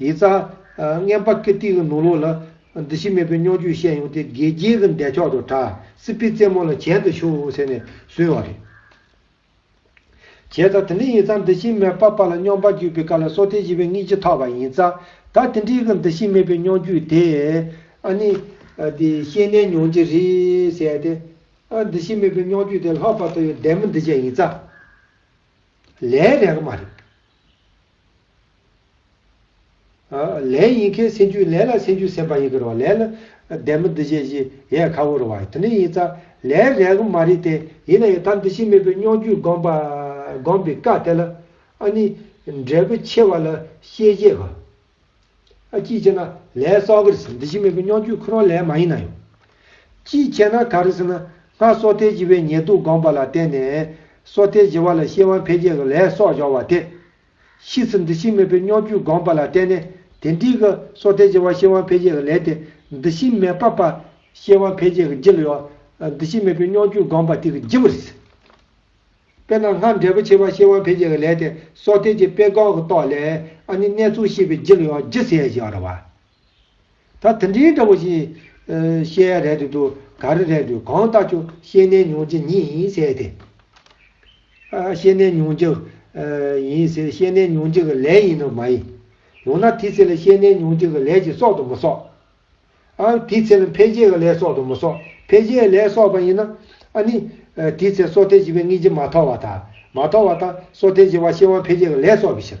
ཡིག་རྩ། རྔན་པ་ཀིརྟི་གི་ནོར་ལུག་ལ། འདི་ཕྱི་མེད་པའི་རྙོག་འཇུག་བཤད་ཡོང་སྟེ་དགེ་རྒྱས་ཀྱི་འདས་ཕྱོགས་དུ་གྲགས། སི་པི་རྩེད་མོ་ལ་གྱེན་དུ་ཤོག་ཟེར་ནས་བཟུང་བ་རེད། བྱས་ཙང་དེ་འདྲའི་ཡིག་རྩ་འདི་ཕྱི་མེད་པ་པ་ལ་རྙོག་པ་འཇུག་པའི་བཀའ་ལ་སོ་ཐལ་བྱེད་པའི་རྔིག་ཅི་ཐོགས་པ་ཡིན་རྩ། ད་དེ་འདྲའི་གི་འདི་ཕྱི་མེད་པའི་རྙོག་འཇུག་དེ། ཨ་ནི། འདི་ཤེས་ནས་མྱོང་གྱི་རེད་ཟེར་ཏེ། ཨ་འདི་ཕྱི་མེད་པའི་རྙོག་འཇུག་དེ་ལྷག་པར་དུ་ཡོད་བདེན་མི་འདི་བཅས་ཡིན་རྩ། ལས་རེག་མ་རེད། ལན་ཡིན་ཁའི་སེན་ཆུ་ལན་ལ་སེན་ཆུ་སེན་པ་ཡིན་ཁར་བ་ལན་ལ། བདེན་མི་འདི་བཞེས་བཞི་ཡས་ཁ་བོར་བ་དེ་ནི་ཡིན་ཙ་ལན་རེ་གི་མ་རེད་དེ་ཡིན་ན་ཡང་ད་འདི་ཕྱི་མེད་པའི་སྙོགས་རྒྱུད་སྒོམ་པ་སྒོམ་པའི་བཀའ་དེ་ལ་ཨ་ནི་འབྲས་བུ་ཆེ་བ་ལ་ཤེས་བཞེས་ག་ཨ་ཅིས་བྱས་ན་ལན་གསོག་གི་རེད་ཟེར་འདི་ཕྱི་མེད་པའི་སྙོགས་རྒྱུད་ཁོ་རང་ལན་མ་ཡིན་ན་ཡང། ཅིས་བྱས་ན་ག་རེད་ཟེར་ན་སྔར་སོ་ཐལ་བྱེད་པའི་ཉེས་རྡུགས་སྒོམ་པ་ལ་བརྟེན་ནས་སོ་ཐལ་བྱེད་བ་ལ་ཤེས་དབང་འཕེལ་རྒྱས་གི་ལན་གསོག་འཇོག་བ་དེ། ཕྱིས་སུ་འདུ་ཤེས་མེད་པའི་སྙོགས་འགྱུར་དགོངས་པ་ལ་བརྟེན་ནས་དེ་འདྲིས་ཀྱི་སོ་ཐལ་གྱི་བར་ཤེས་དབང་འཕེལ་རྒྱས་ཀྱི་ལས་དེ་འདུ་ཤེས་མེད་པ་བར་ཤེས་དབང་འཕེལ་རྒྱས་ཀྱི་བརྗིད་ལ་ཡོད། འདུ་ཤེས་མེད་པའི་སྙོགས་འགྱུར་དགོངས་པ་དེ་གི་བརྗིད་པར་ཟད། དཔེར་ན་སྔར་འབྲས་བུ་ཆེ་བར་ཤེས་དབང་འཕེལ་རྒྱས་ཀྱི་ལས་དེ་སོ་ཐལ་གྱི་དཔེ་གོང་གི་རྟོག་ལས་ཨ་ནི་གནས་ཚུལ་ཤེས་པའི་བརྗིད་ལ་ཡང་བརྗིད་ཟད་ཀྱི་རེད་བ། ད་དེ་འདྲའི་འདྲ་བོ་ཞིག། བཤད་ཡ་རལ་དུ་འདུག་ག་རི་རལ་དུ་གང་ལྟ་ཆོག་ཤེས་ནས་མྱོང་རྒྱུ་ཉིད་ཡིན་ཟེར་ཏེ། ཤེས་ནས་མྱོང་རྒྱུ། ཡིན་ཟེར་ཤེས་ནས་མྱོང་རྒྱུ་གི་ལས་ཡིན་ནོ་མ་ཡིན། ཡང་ན་དེའི་ཚེ་ལ་ཤེས་ནས་མྱོང་རྒྱུ་གི་ལས་ཀྱིས་གསོག་ཏུ་མི་གསོག། ཨང། དེའི་ཚེ་ལ་འཕེན་བྱེད་ཀྱི་ལས་གསོག་ཏུ་མི་གསོག་འཕེན་བྱེད་ལས་གསོག་པ་ཡིན་ན། ཨ་ནི། དེའི་ཚེ་སྲོག་ཐལ་བྱེད་པའི་དངོས་རྒྱུ་མ་ཐོགས་བ་དང། མ་ཐོགས་བ་དང་སྲོག་ཐལ་བྱེད་པ་ཤེས་དབང་འཕེན་བྱེད་ཀྱི་ལས་གསོག་པའི་ཕྱིར།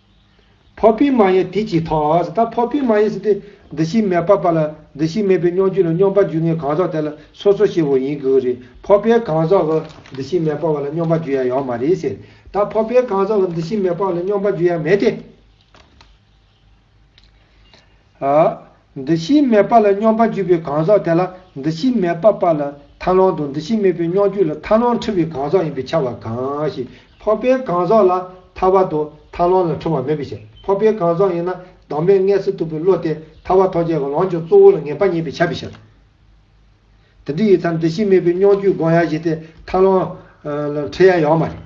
ཕོ་བུའི་མ་ཡིན་དེ་ཅིའི་ཐོགས། ད་ཕོ་བུའི་མ་ཡིན་ཟེར་ཏེ། འདུ་ཤེས་མེད་པ་པ་ལ་འདུ་ཤེས་མེད་པའི་སྙོམས་འཇུག་ལ་སྙོམས་པར་འཇུག་ངེས་གང་ཟག་དེ་ལ་སོ་སོ་ཞེས་བའོ་ཡིན་དགོས་རེད་ཕོ་བའི་གང་ཟག་གི་འདུ་ཤེས་མེད་པ་བ་ལ་སྙོམས་པར་འཇུག་ཡ་ཡང་མ་རེད་ཟེར་ད་ཕོ་བའི་གང་ཟག་གི་འདུ་ཤེས་མེད་པ་བ་ལ་སྙོམས་པར་འཇུག་ཡ་མེད་དེ། འདུ་ཤེས་མེད་པ་ལ་སྙོམས་པར་འཇུག་པའི་གང་ཟག་དེ་ལ་འདུ་ཤེས་མེད་པ་པ་ལ་མཐའ་ལོངས་དང་འདུ་ཤེས་མེད་པའི་སྙོམས་འཇུག་ལ་མཐའ་ལོངས་འཁྲུལ་བའི་གང་ཟག་ཡིན་པའི་ཆ་བ་གང་ཞིག་འཕགས་པའི་གང་ཟག་ལ་ཐར་བ་དང་མཐའ་ལོངས་ལ་འཁྲུལ་བ་མེད་པའི་ཕྱིར་འཕགས་པའི་གང་ཟག་ཡིན་ན་བདག་མེད་ལྔས་སུ་གཏུགས་པའི་བློ་དེས་ཐར་བ་ཐོགས་བཅས་ཀྱི་ལོངས་སྤྱོད་གཙོ་བོ་ལ་ངེས་པ་རྙེད་པའི་ཆ་བའི་ཕྱིར། དེ་འདི་ཡི་མཚམས་འདུ་ཤེས་མེད་པའི་སྙོམས་འཇུག་སྒོམ་ཡ་བཞི་སྟེ་མཐའ་ལོངས་ལ་འཁྲུལ་ཡ་ཡོད་མ་རེད།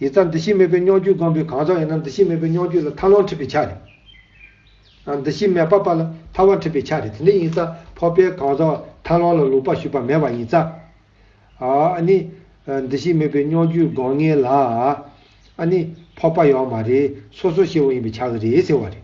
ཡི་རྩ་འདུ་ཤེས་མེད་པའི་སྙོང་བཅུད་སྒོམ་པའི་གང་ཟག་ཡིན་ན་འདུ་ཤེས་མེད་པའི་སྙོང་བཅུད་ལ་ཐར་ལོངས་འཁྲིད་པའི་ཆ་རེད། འདུ་ཤེས་མེད་པ་པ་ལ་ཐར་བ་འཁྲིད་པའི་ཆ་རེད་དེ་འདྲ་ཡིན་ས་འཕོ་པའི་གང་ཟག་ཐར་ལོངས་ལ་ལུགས་པ་ཞུགས་པ་མེད་པ་ཡིན་ས་ཨ་ནི། འདུ་ཤེས་མེད་པའི་སྙོང་བཅུད་སྒོམ་ངེས་ལ་ཨ་ནི། འཕོ་པ་ཡོག་མ་རེད་སོ་སོ་ཤེས་བ་ཡིན་པའི་ཆ་གི་རེད་ཟེར་བ་རེད།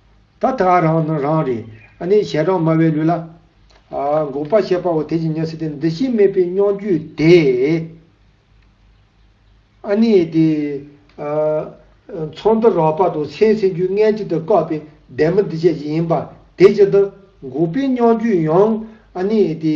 ད་ད་རང་ནི་རང་རེད་ཨ་ནི་ཞལ་གྲངས་དམའ་བའི་ལུས་ལ། འགོག་པ་བྱེད་པའོ་དེ་བཞིན་ཉེར་སྲིད་དེ་འདི་ཤེས་མེད་པའི་སྙོགས་འགྱུས་དེ། ཨ་ནི་དེ། མཚོ་འདི་རོགས་པ་དང་མཚན་སྲིན་རྒྱུས་མངལ་གཅིག་ཏུ་བཀག་པའི་སྡེར་མོ་འདི་བཅས་ཀྱི་ཡིན་པ་དེ་ཅི་ལྟར་འགོག་པའི་སྙོགས་འགྱུས་ཡང་ཨ་ནི་དེ།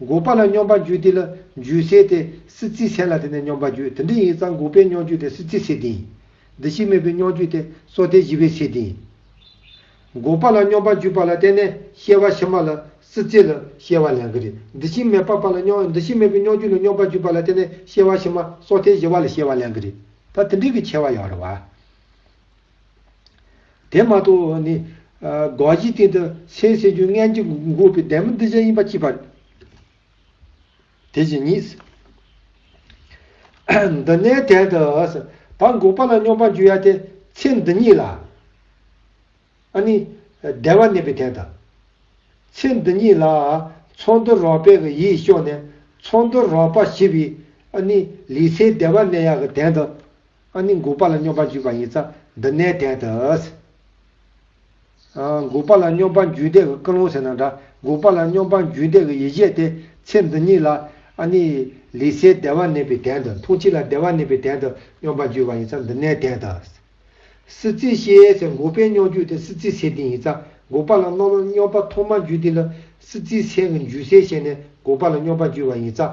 འགོག་པ་ལ་སྙོམས་པར་འཇུག་དེ་ལ་འཇུས་སེ་སྟེ་སྲིད་རྩེའི་ཚད་ལ་དེ་ནས་སྙོམས་པར་འཇུག་དེ་འདི་ཡིན་ཙང་འགོག་པའི་སྙོམས་འཇུག་དེ་སྲིད་རྩེའི་ཚད་དེ་ཡིན། འདི་ཕྱིས་སྨོས་པའི་སྙོམས་འཇུག་དེ་སྲོག་ཐལ་བཞི་པའི་ཚད་དེ་ཡིན། འགོག་པ་ལ་སྙོམས་པར་འཇུག་པ་ལ་བརྟེན་ནས་གཤེ་བ་ཕྱི་མ་ལ་སྲིད་རྩེ་ལ་གཤེ་བ་ལན་གྱི་རེ་འདི་ཕྱིས་སྨོས་པ་པ་ལ་སྙོམས་འདི་ཕྱིས་སྨོས་པའི་སྙོམས་འཇུག་ལ་སྙོམས་པར་འཇུག་པ་ལ་བརྟེན་ནས་གཤེ་བ་ཕྱི་མ་སྲོག་ཐལ་བཞི་བ་ལ་གཤེ་བ་ལན་གྱི་རེ་ད་དེ་འདི་གི་ཁྱད་བར་ཡང་རེ་བ། དེ་མ་གཏོགས་ནི། དགག་གཞིའི་སྟེང་དུ་སེམས་སེམས་རྒྱུད་ལྔན་གྱི་འགོག་པའི་བདེན་པ་འདི་ཅན་ཡིན་པ་གཅིག། དེ་བཞིན་ཉིད། འདི་ནས་དེར་དུ། བར་འགོག་པ་ལ་སྙོམས་པར་འཇུག་ཡ་སྟེ་ཚེ་འདི་ཉིད་ལ། ནི། བདེ་བར་གནས་པའི་དོན་དང། ཚེ་འདི་ཉིད་ལ། ཚོར་འདུ་རོགས་པས་ཀྱི་ཡིད་གཤོག་ནས་ཚོར་འདུ་རོགས་པ་ཞི་བའི། ནི། ལུས་ཚེའི་བདེ་བར་གནས་ཡ་གི་དོན་དང། ཨ་ནི་འགུགས་པ་ལ་སྙོམས་པར་འཇུག་པ་ཡིན་ཙང་འདི་གནས་བརྟན་དུ། འགུགས་པ་ལ་སྙོམས་པར་འཇུག་འདས་ཀྱི་ཀུན་སློང་ཟེར་ན་འདྲ་འགུགས་པ་ལ་སྙོམས་པར་འཇུག་འདས་ཀྱི་ཡེ་ཤེས་ཏེ་ཚེ་འདི་ཉིད་ལ། ཨ་ནི། ལུས་སའི་བདེ་བ་གནས་པའི་གདན་དུ་འཐུང་ཕྱིར་ལ་བདེ་བ་གནས་པའི་གདན་དུ་སྙོམས་པར་འཇུག་པ་ཡིན་ཙང་འདི་གནས་བརྟན་དུ། སྲིད་རྩེའི་ཤེས་ཟེར་འགུགས་པའི་སྙོམས་འཇུག་ཏེ་སྲིད་རྩེའི་ཚེ་འདི་ཡིན་ཙང་འགུགས་པ་ལ་སྣོམ་ལ་སྙོམས་པ་ཐོག་མར་འཇུག་འདི་ལ་སྲིད་རྩེའི་ཚེ་ཀྱི་འཇུག་སའི་ཤེས་ནས་འགུགས་པ་ལ་སྙོམས་པར་འཇུག་པ་ཡིན་ཙང།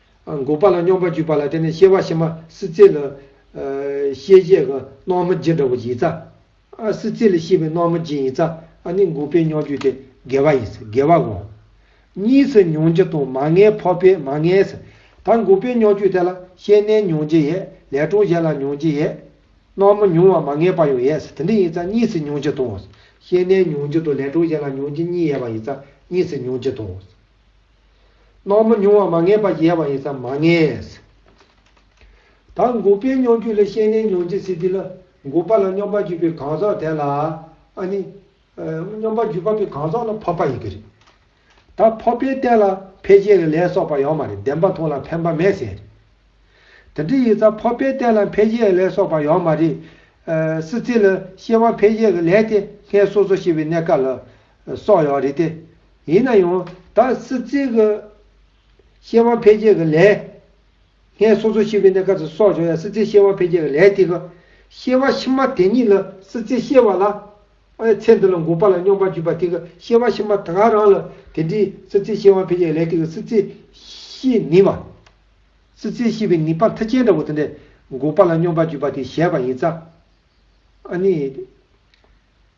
འགོག་པ་ལ་སྙོམས་པར་འཇུག་པ་ལ་བརྟེན་ནས་གཤེ་བ་ཕྱི་མ་སྲིད་རྩེ་ལ། ཤེས་བྱའི་སྣང་བ་མི་སྦྱིན་དྲག་པོ་ཡིད་རྩ། སྲིད་རྩེ་ལས་ཤེས་པའི་སྣང་བ་མི་སྦྱིན་ཡིད་རྩ་ནི་འགོག་པའི་སྙོམས་འཇུག་སྟེ་དགེ་བ་ཡིན། དགེ་བ་འོག་གཉིས་སུ་མྱོང་བྱེད་དང་མ་ངེས་འཕགས་པས་མ་ངེས། ད་འགོག་པའི་སྙོམས་འཇུག་དེ་ལ་ཤེས་གནས་མྱོང་བྱེད་ཡས་ལས་གྲོང་གཞན་ལ་མྱོང་བྱེད་ཡས། སྣང་བ་མྱོང་བ་མ་ངེས་པ་ཡང་ཡས་དེ་འདི་ཡིད་རྩ་གཉིས་སུ་མྱོང་བྱེད་དང། ཤེས་གནས་མྱོང་བྱེད་དང་ལས་གྲོང་གཞན་ལ་མྱོང་བྱེད་གཉིས་ཡས་པ་ཡིད་རྩ་གཉིས་སུ་མྱོང་བྱེད་དང། སྣང་མི་མྱོང་བ་མ་ངེས་པ་ཡལ་བ་ཡིན་ཙམ་མ་ངེས། ད་འགོག་པའི་སྙོམས་འཇུག་ལས་ཤེས་ལེན་མྱོང་བྱེད་སྲིད་དེ་ལ་འགོག་པ་ལ་སྙོམས་པར་འཇུག་པའི་གང་ཟག་དེ་ལ་ནི། སྙོམས་པར་འཇུག་པ་པོའི་གང་ཟག་ལ་འཕགས་པ་ཡིན་གྱི་རེད། ད་འཕགས་པའི་རྟེན་ལ་ཕལ་ཆེར་ལས་ལས་སོགས་པ་ཡང་མ་རེད་བདེན་པ་མཐོང་ལ་ཕན་པ་མེད་ཟེར། དེ་འདྲ་ཡིན་ཙང་འཕགས་པའི་རྟེན་ལ་ཕལ་ཆེར་ལས་སོགས་པ་ཡང་མ་རེད། སྲིད་རྩེ་ལ་ཤེས་པ་ཕལ་ཆེར་གྱི་ལས་དེ་སྔས་སོ་སོ་ཤེས་པའི་གནས་སྐབས་ལ། སོགས་ཡང་རེད་དེ། ཡིན་ན་ཡང་ད་སི་ཙི་གི་ཤེས་དབང་འཕེལ་རྒྱས་ཀྱི་ལས། ངས་སོ་སོ་ཤི་བའི་གནས་སྐབས་སུ་སོགས་བྱུང་ཡང་སི་ཙིའི་ཤེས་དབང་འཕེལ་རྒྱས་ཀྱི་ལས་དེ་གི། ཤེས་དབང་ཕྱི་མ་དེ་ཉིད་ལ་སི་ཙི་ཤེས་བ་ལ། ཨའི་ཚེ་འདི་ལ་འགོག་པ་ལ་སྙོམས་པར་འཇུག་པ་དེ་གི་ཤེས་དབང་ཕྱི་མ་ད་ག་རང་ལ་དེ་འདྲའི་སི་ཙིའི་ཤེས་དབང་འཕེལ་རྒྱས་ཀྱི་ལས་དེ་གི་སི་ཙི་ཤི་ནི་བ། སི་ཙིའི་ཤི་བའི་ནི་པ་མཐའ་ཅན་འདྲ་བོ་དེ་འདྲས་འགོག་པ་ལ་སྙོམས་པར་འཇུག་པ་དེ་གཞལ་བ་ཡིན་ཙང། ཨ་ནི།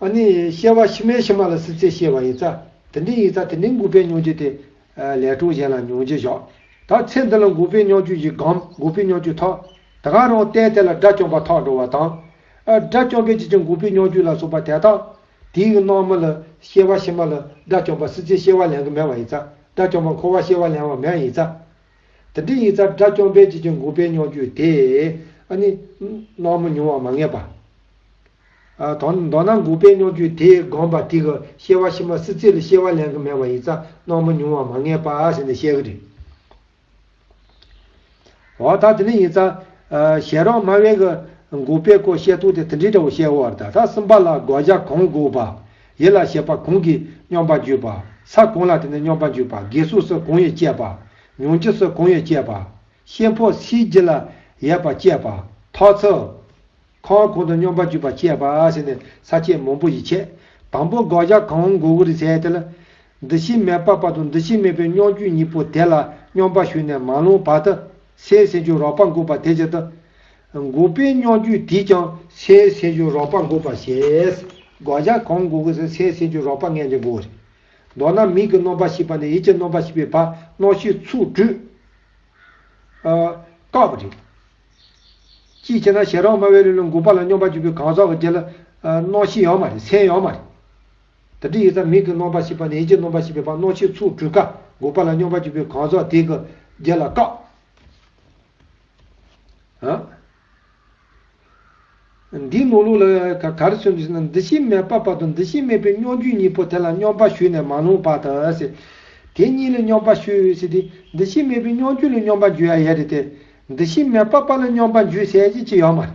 ཨ་ནི། ཤེས་བ་ཕྱི་མའི་ཕྱི་མ་ལ་སྲིད་ཚེ་ཤེས་བ་ཡིན་ཙཱ། དེ་འདྲའི་ཡིན་ཙཱ་དེ་འདྲའི་འགུགས་པའི་སྙོགས་རྒྱུ་དེ། ལས་གྲོགས་གཞན་ལ་མྱོང་རྒྱུ་བཞག། ད་ཚེ་འདི་ལ་འགུགས་པའི་སྙོགས་རྒྱུ་ཞིག་གམ་འགུགས་པའི་སྙོགས་རྒྱུ་ཐག། ད་ག་རང་བལྟས་དེ་ལ་དགྲ་བཅོམ་པ་ཐག་འགྲོ་བ་དང། དགྲ་བཅོམ་པའི་རྗེས་ཀྱི་འགུགས་པའི་སྙོགས་རྒྱུ་ལ་སོགས་པ་དེ་དག། དེའི་སྣང་མི་ལ། ཤེས་བ་ཕྱི་མ་ལ། དགྲ་བཅོམ་པ་སྲིད་ཚེ་ཤེས་བ་ལེན་གི་མེད་བ་ཡིན་ཙཱ། དགྲ་བཅོམ་པ་འཁོར་བ་ཤེས་བ་ལེན་བ་མེད་ཡིན་ཙཱ། དེ་འདྲའི་ཡིག་རྩར་སྒྲ་སྐྱོང་སྤེལ་བྱེད་ཀྱི་འགུག་པའི་རྙོག་འགྱུར་དེས་ཨ་ནི། སྣང་མི་མྱོང་བ་མ་ངེས་པ། དང། མདོར་ན་འགུག་པའི་རྙོག་འགྱུར་དེས་དགོངས་པ་དེ་གི་ཤེས་བ་ཕྱི་མ་སྲིད་རྩེ་ལ་ཤེས་བ་ལེན་གི་མེད་པ་ཡིག་རྩ་སྣང་མི་མྱོང་བ་མ་ངེས་པ་ཟེར་ནས་བཤད་གི་རེད། འོ་ད་དེ་ནི་ཡིག་རྩ། ཞལ་རོགས་སྨྲ་བས་གི། འགུག་པའི་སྐོར་བཤད་ཐུག་དེ་དེ་འདྲའི་འདྲ་བོ་བཤད་འོར་ད་ད་གསུམ་པ་ལ་དགོད་བྱ་གང་འགུག་པ། ཡེ་ལ་ཞེས་པ་གུང་གིས་སྙོམས་པར་འཇུག་པ། ས་གུང་ལ་དེ་ནས་སྙོམས་པར་འཇུག་པ་དགེ་གཟུགས་སོགས་གུང་ཡོད་ཅེས་པ། མྱོང་བྱེད་སོགས་གུང་ཡོད་ཅེས་པ། ཤེས་ཕོ་སིའི་རྒྱུད་ལ་ཡས་པ་ཅེས་པ། ཐོག་ཚོ། ཁོང་གུང་དུ་སྙོམས་པར་འཇུག་པ་ཅེས་པ་ཞེས་ནས་ས་བཅད་མང་པོ་ཡིས་འཆད། དང་པོ་སྒོག་བྱ་གང་མགོ་བོ་རི་ཚལ་དེ་ལ། འདུ་ཤེས་མེད་པ་བར་དུ་འདུ་ཤེས་མེད་པའི་སྙོམས་འཇུག་གཉིས་པོ་དེ་ལ་སྙོམས་པར་ཞུགས་ནས་མ་ལོངས་བར་དུ། སའི་སེམས་ཅན་རོགས་པར་འགོག་པ་དེ་བྱེད་དོ། འགོག་པའི་སྙོགས་རྒྱུད་འདིས་ཀྱང་སའི་སེམས་ཅན་རོགས་པར་འགོག་པ་ཞེས་འགོག་བྱ་གང་འགོག་གིས་སའི་སེམས་ཅན་རོགས་པ་ལྔས་ཀྱང་འགོག་བ་རེད། མདོར་ན་མིག་གི་སྣོམ་པ་ཞིག་པ་ནས་ཡིད་ཀྱི་སྣོམ་པ་ཞིག་པའི་བར་སྣོག་ཤིག་ཚུགས་དུས། སྐབས་རེར། ཅིའི་ཕྱིར་ན་ཞེ་རགས་སྨྲ་བས་ལུས་ལ་འགོག་པ་ལ་སྙོམས་པར་འཇུག་པའི་གང་ཟག་གི་རྗེས་ལ་སྣོག་ཤིག་ཡང་མ་རེད་སེམས་ཡང་མ་རེད། དང་དྲི་ཡི་རྩ་མིག་གིས་སྣོམ་པར་བྱེད་པ་ནི་ཡིད་ཀྱིས་སྣོམ་པར་བྱེད་པའི་བར་སྣོད་ཆའི་ཚུགས་གྲུས་ཀ་དགུ་པ་ལ་སྙོམས་པར་འཇུག་པའི་གང་ཟག་དེའི་གུ་རྒྱན་ལ་ཀ། འདིའི་ནོར་ལུག་ལ་ཀ་གར་སོན་དུས་ན་འདུ་ཤེས་མེད་པ་བར་དུ་འདུ་ཤེས་མེད་པའི་སྙོམས་འཇུག་གཉིས་པོ་དེ་ལ་སྙོམས་པར་ཞུགས་ནས་མ་ལྷུང་བར་དུ། དེ་གཉིས་ལ་སྙོམས་པར་ཞུགས་ཞེས་དེ་འདུ་ཤེས་མེད་པའི་སྙོམས་འཇུག་ལ་སྙོམས་པར་འཇུག་ཡ་ཡས་རེད་དེ། འདུ་ཤེས་མེད་པ་བར་ལ་སྙོམས་པར་འཇུག་ཟས་ཅི་ཡང་མ་རེད།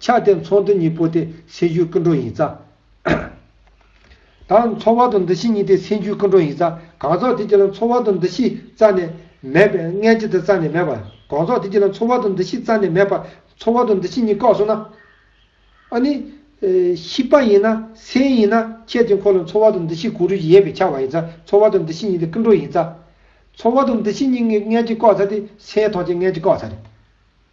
ཆགས་དེ་ཚོགས་འདུ་གཉིས་པོ་དེ་སེམས་རྒྱུད་ཀུན་འགྲོ་ཡིན་ཙང། དང་ཚོགས་བར་དུ་འདུ་ཤེས་གཉིས་དེ་སེམས་རྒྱུད་ཀུན་འགྲོ་ཡིན་ཙང་གང་ཚོགས་དེ་གཅིག་ལ་ཚོགས་བར་དུ་འདུ་ཤེས་རྩ་ནས་མེད་པས་མངལ་གཅིག་ཏུ་རྩ་ནས་མེད་པ། གང་ཚོགས་དེ་གཅིག་ལ་ཚོགས་བར་དུ་འདུ་ཤེས་རྩ་ནས་མེད་པ། ཚོགས་བར་དུ་འདུ་ཤེས་གཉིས་བཀག་སོང་ན། ཨ་ནི། ཤི་པ་ཡིན་ན་སེམས་ཡིན་ན་ཁྱེད་དེ་འཁོར་ལ་ཚོགས་བར་དུ་འདུ་ཤེས་གུ་རུ་ཡིན་པས་ཆགས་པ་ཡིན་ཙང་ཚོགས་བར་དུ་འདུ་ཤེས་གཉིས་དེ་ཀུན་འགྲོ་ཡིན་ཙང། ཚོགས་བར་དུ་འདུ་ཤེས་གཉིས་མངལ་གཅིག་བཀག་ཚར་དེ་སེམས་ཐོག་ཆེན་མངལ་གཅིག་བཀག་ཚར།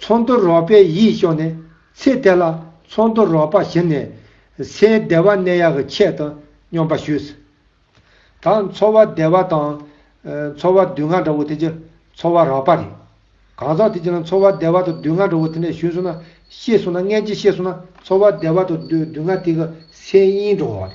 ཚོགས་འདུར་རོགས་པའི་ཡིད་ཤོག་ནས་ཚེ་དེ་ལ་ཚོགས་འདུར་རོགས་པ་བྱིན་ནས་ཚེའི་བདེ་བ་གནས་ཡག་གི་ཆེད་དུ་སྙོམས་པ་ཞུས། ད་འཚོ་བ་བདེ་བ་དང། འཚོ་བ་སྡུག་བསྔལ་འདྲ་བོ་དེ་ཀྱི་འཚོ་བ་རག་པ་རེད། གང་ཟག་དེ་ཀྱི་ལ་འཚོ་བ་བདེ་བ་དང་སྡུག་བསྔལ་འདྲ་བོ་དེ་འདྲ་ཞུས་སོང་ན་ཤེས་སོང་ན་ངན་ཅིག་ཤེས་སོང་ན་འཚོ་བ་བདེ་བ་དང་སྡུག་བསྔལ་དེ་ཀྱི་སེམས་དབྱིངས་འགྲོ་བ་རེད།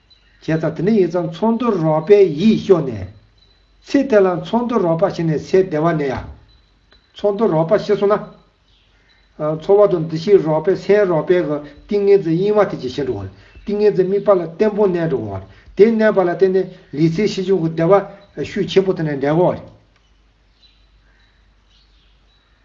བྱས་ཙང་དེ་འདྲ་ཡིན་ཙང་ཚོགས་འདུར་རོགས་པའི་ཡིད་ཤོག་ནས། ཚེ་དེ་ལ་ཚོགས་འདུར་རོགས་པ་བྱས་ནས་ཚེ་བདེ་བ་ནས་ཡ། ཚོགས་འདུར་རོགས་པ་བྱེད་སོང་ན། འཚོ་བ་དང་འདི་ཕྱིའི་རོགས་པའི་སེམས་རོགས་པའི་གི་ཏིང་ངེ་འཛིན་གཡེང་བ་དེ་ཇེ་ཞན་འགྲོ། ཏིང་ངེ་འཛིན་དམིགས་པ་ལ་བརྟན་པོ་གནས་འགྲོ། དེ་གནས་པ་ལ་བརྟེན་ནས་ལུས་ཚེ་ཕྱི་འབྱུང་གི་བདེ་བ་ཤུགས་ཆེན་པོ་དེ་ནས་འབྲས་བུ།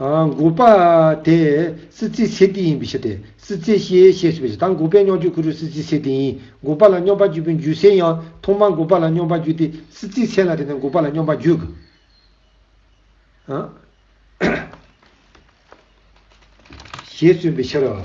འགོག་པ། དེ་སྲིད་རྩེའི་ཚེ་འདི་ཡིན་པའི་ཕྱིར་ཏེ། སྲིད་རྩེའི་གཤེའི་གཤེད་ཞེས་པའི་ཕྱིར་དང་འགོག་པའི་སྙོགས་འགྱུར་གུ་རུའི་སྲིད་རྩེའི་ཚེ་འདི་ཡིན་འགོག་པ་ལ་སྙོམས་པར་འཇུག་པའི་འཇུག་སའི་ཡང་ཐོག་མ་འགོག་པ་ལ་སྙོམས་པར་འཇུག་སྟེ་སྲིད་རྩེའི་ཚེ་ལ་དེ་ནས་འགོག་པ་ལ་སྙོམས་པར་འཇུག། ཞེས་གསུངས་པའི་ཕྱིར་རོ།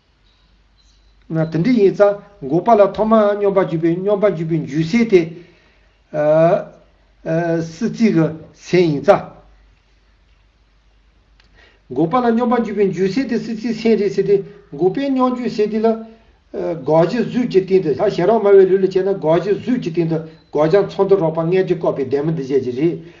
ན་དེ་འདྲ་ཡིན་ཙང་འགོག་པ་ལ་ཐོག་མར་སྙོམས་པར་འཇུག་པའི་སྙོམས་པར་འཇུག་པའི་འཇུག་སའི་དེ། སྲིད་རྩིས་ཀྱི་སེམས་ཡིན་ཙང། འགོག་པ་ལ་སྙོམས་པར་འཇུག་པའི་འཇུག་སའི་དེ་སྲིད་རྩིས་སེམས་རེད་ཟེར་ཏེ། འགོག་པའི་སྙོམས་འཇུག་སའི་དེ་ལ། འགོག་བྱེད་གཟུགས་ཀྱི་སྟེང་དུ་ལྷ་ཞལ་རོགས་སྨྲ་བའི་ལུས་ལ་བྱས་ན་འགོག་བྱེད་གཟུགས་ཀྱི་སྟེང་དུ་འགོག་བྱ་མཚོ་མདོ་རོགས་པ་ལྔས་དྲི་བཀོད་པའི་སྡེར་མོ་འདི་བྱས་ཀྱི་རེད།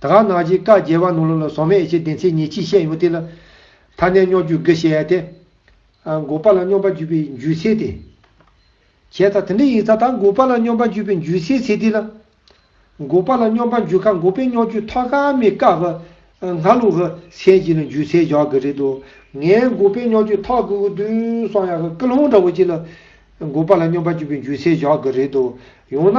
ད་ག་ནག་གྱིས་བཀའ་རྒྱལ་བ་ནོར་ལུག་ལ་ཟོག་མེད་ཨེ་བྱེད་བདེན་ཚིག་ཉིད་ཅིག་བཤད་ཡོང་དེ་ལ། ད་ནས་སྙོག་རྒྱུ་དགེ་བཤད་དེ། འགོག་པ་ལ་སྙོམས་པར་འཇུག་པའི་འཇུས་ཚད་དེ། བྱས་ཙང་དེ་འདྲ་ཡིན་ཙང་ད་འགོག་པ་ལ་སྙོམས་པར་འཇུག་པའི་འཇུས་ཚད་ཚད་དེ་ལ། འགོག་པ་ལ་སྙོམས་པར་འཇུག་ཁར་འགོག་པའི་སྙོག་རྒྱུ་ཐོག་ཁ་མའི་བཀའ་བྷ་ཧ་ལུག་ཧ་སེན་གྱིས་ལ་འཇུས་ཚད་བཞག་གི་རེད་དོ། ངས་འགོག་པའི་སྙོག་རྒྱུ་ཐོག་ཁུ་གུ་དུས་སང་ཡག་གི་ཀི་ལྷོང་འདྲ་བོ་གྱིས་ལ། འགོག་པ་ལ་སྙོམས་པར་འཇུག་པའི་འཇུས་ཚད་བཞག་གི་རེད་དོ། ཡང་ན།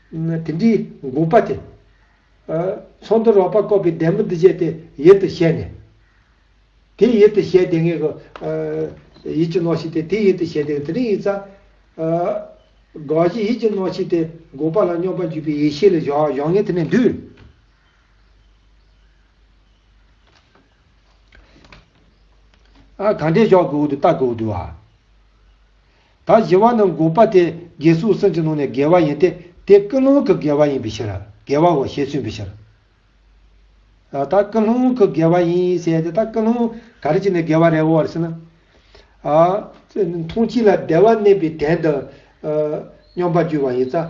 དེ་འདྲའི་འགུགས་པ་དེ། ཚོགས་འདུ་རོགས་པ་བསྐོ་བའི་བདེ་མོ་འདི་བྱས་ཏེ་ཡིད་དུ་བྱས་ནས། དེ་ཡིད་དུ་བྱས་དེ་ངེད་གི། ཡིད་ཀྱི་རྣོ་ཕྱིས་ཏེ་དེ་ཡིད་དུ་བྱས་དེ་དེ་རིང་ཡིག་ཚ། དགག་གཞི་ཡིད་ཀྱི་རྣོ་ཕྱིས་ཏེ་འགུགས་པ་ལ་སྙོམས་པར་འཇུག་པའི་ཡེ་ཤེས་ལས་བཞག་ངེད་དེ་ནས་འདུས། གང་འདྲའི་ཞོག་གི་འོག་ཏུ་རྟ་གི་འོག་ཏུ་བ། ད་བཞི་བ་ནི་འགོག་པ་སྟེ་རྒྱས་སོའི་སེམས་ཀྱི་ནང་ནས་དགེ་བ་ཡིན་ཏེ་དེ་ཀུན་སློང་གི་དགེ་བ་ཡིན་པའི་ཕྱིར། དགེ་བའོ་ཞེས་མཚོན་པའི་ཕྱིར། ད་ཀུན་སློང་གི་དགེ་བ་ཡིན་ཟེར་ཏེ་ད་ཀུན་སློང་ག་རེ་བྱས་ནས་དགེ་བ་རེད་བོ་ཟེར་ན། མཐོང་བྱེད་ལ་བདེ་བ་གནས་པའི་དན་དང། སྙོམས་པར་རྒྱུ་བ་ཡིན་ཙང་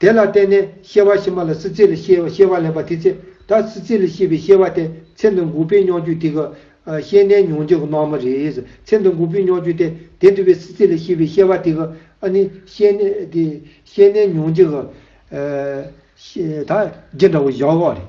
དེ་ལ་བརྟེན་ནས་ཤེས་བ་ཕྱི་མ་ལ་སྲིད་རྩེ་ལས་ཤེས་བ་ལེན་པ་དེ་ཚེ་ད་སྲིད་རྩེ་ལས་ཤེས་པའི་ཤེས་བ་དེ་ཚེ་འདི་འགུགས་པའི་སྙོགས་རྒྱུ་དེ་གི། ཤེས་ནས་མྱོང་བྱེད་ཀྱི་སྣང་མ་རེད། ཚེ་འདི་འགུགས་པའི་སྙོགས་རྒྱུ་དེ་དེ་འདུལ་བའི་སྲིད་རྩེ་ལས་ཤེས་པའི་ཤེས་བ་དེ་གི། ཨ་ནི། ཤེས་ནས་མྱོང་བྱེད་ཀྱི། ད། རྒྱན་འདྲ་བོ་བཞག་ཨོ་རེད།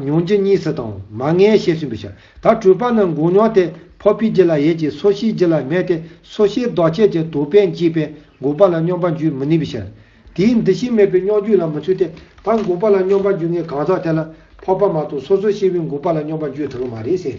མྱོང་རྒྱུ་གཉིས་སུ་དང། མ་ངེས་ཤེས་བསྲུན་པའི་ཕྱིར། ད་སྤྲོས་པ་ནི་འགུགས་མྱོང་དེ་འཕོ་བའི་རྒྱུ་ལ་ཡོད་ཀྱི་སོ་ཤིའི་རྒྱུ་ལ་མེད་དེ་སོ་ཤིའི་ལྡོག་ཆས་ཀྱི་དུག་པས་འཇིགས་པས་འགུགས་པ་ལ་སྙོམས་པར་འཇུག་མི་ནུས་པའི་ཕྱིར། དེའི་འདུ་ཤེས་མེད་པས་སྙོགས་འཇུག་ལ་མི་ཚུད་དེ། ད་འགུགས་པ་ལ་སྙོམས་པར་འཇུག་ངེས་གང་ཟག་དེ་ལ་འཕོ་བ་མ་གཏོགས་སོ་སོ་ཤི་བའི་འགུགས་པ་ལ་སྙོམས་པར་འཇུག་ཐུབ་ཀྱི་མ་རེད་ཟེར།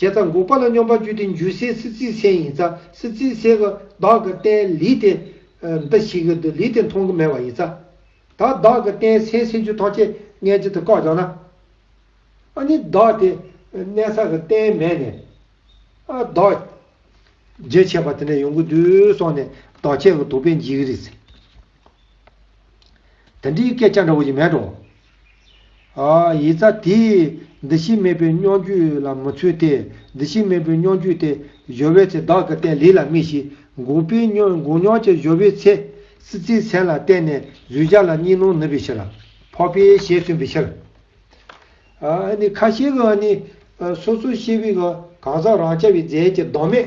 བྱས་ཙང་འགུགས་པ་ལ་སྙོམས་པར་བཅུད་དེ་འཇུ་སའི་སྲིད་རྩེའི་ཚད་ཡིན་ཙང་སྲིད་རྩེའི་ཚད་ཀྱི་བདག་གི་རྟེན་ལུས་དེ་འདི་ཞིག་གི་ལུས་དེ་མཐོང་གི་མེད་པ་ཡིན་ཙང། ད་བདག་གི་རྟེན་སེམས་སེམས་རྒྱུད་ཐམས་ཅད་མངལ་གྱི་དུ་བཀག་བྱང་ན། ཨ་ནི་བདག་དེ་གནས་ས་གི་རྟེན་མེད་ནས། ཨ་བདག། རྗེས་ཆད་པ་དེ་འདྲ་ཡོང་གི་འདུག་སོང་ནས་བདག་ཆད་ཀྱི་དོགས་པས་འཇིགས་རིགས། དེ་འདྲའི་སྐད་ཆ་འདྲ་བོ་ཞིག་མེད་དོ། ཡིད་རྩ་དེས་འདི་ཕྱི་མེད་པའི་སྙོམས་འཇུག་ལ་མི་ཚུད་དེ། འདི་ཕྱི་མེད་པའི་སྙོམས་འཇུག་དེ་གཞོལ་བའི་ཚེ་བདག་གི་སྟན་ལི་ལ་རྨིས་ཤིང་འགུགས་པས་འགུགས་མྱོང་ཅིག་གཞོལ་བའི་ཚེ། སྲིད་རྩེའི་མཚན་ལ་བརྟེན་ནས་གཟུད་བྱ་ལ་གཉིས་སྣང་ནུབ་པའི་ཕྱིར། འཕགས་པས་ཞེས་གསུངས་པའི་ཕྱིར། ཁ་ཤས་ཀྱིས་ནི། སོ་སོའི་ཤེས་པས་གང་ཟག་རང་ཆ་བའི་རྫས་ཀྱི་བདག་མེད།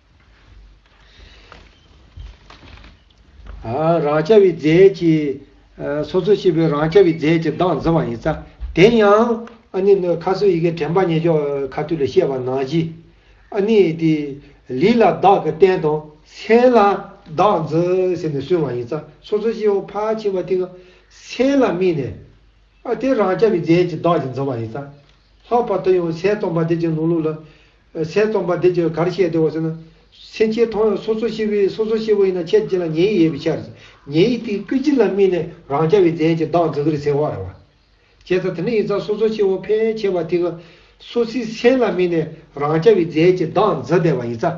རང་རྐྱ་བའི་རྫས་ཀྱི། སོ་སོར་ཤེས་པའི་རང་རྐྱ་བའི་རྫས་ཀྱི་གདངས་འཛིན་བ་ཡིན། རྩ་དེ་ཡང། ཨ་ནི། ཁ་སོའི་ཡི་གེ་དྲན་པ་ཉེ་འཇོག་ཁ་ཐུག་ལས་བཤད་པ་ནང་བཞི། ཨ་ནི། ལི་ལ་བདག་གི་རྟེན་དང། སེ་ལ་བདག་འཛིན་ཟེར་ནས་སུན་བ་ཡིན། རྩ་སོ་སོར་ཤེས་པ་ཕར་ཕྱིན་པ་ཏིང་ངེ། སེ་ལ་སྨིན་ནས། ཨ་དེ་རང་རྐྱ་བའི་རྫས་ཀྱི་གདགས་ཀྱི་འཛིན་བ་ཡིན། རྩ་ལྷག་པར་དུ་ཡང་སའི་སྟོང་པ་འདི་ཅིག་ནོར་ལུགས་ལ། སའི་རྩོམ་པ་འདི་ཚོས་གར་བཤད་དེ་བ་ཟེར་ན། སེམས་ཅན་མཐོང་ཡང་སོ་སོ་ཤི་བོའི་སོ་སོ་ཤི་བོ་ཡིན་ན་ཁྱེད་ཅི་ལ་ཉེ་ཡིག་ཡས་པའི་ཕྱིར། ཉེ་ཡིག་དེའི་སྐུལ་ཅི་ལ་སྨིན་ནས་རང་ཅག་བའི་རྫས་ཀྱི་བདག་འཛིན་གིར་ཟེར་བ་རེད་བ། བྱས་ཙང་དེ་འདྲ་ཡིན་ཙང་སོ་སོ་ཤི་བོ་ཕལ་ཆེ་བ་དེ་ག་སོ་སིའི་སེམས་ལ་སྨིན་ནས་རང་ཅག་བའི་རྫས་ཀྱི་བདག་འཛིན་བསྡད་པ་ཡིན་ཙང།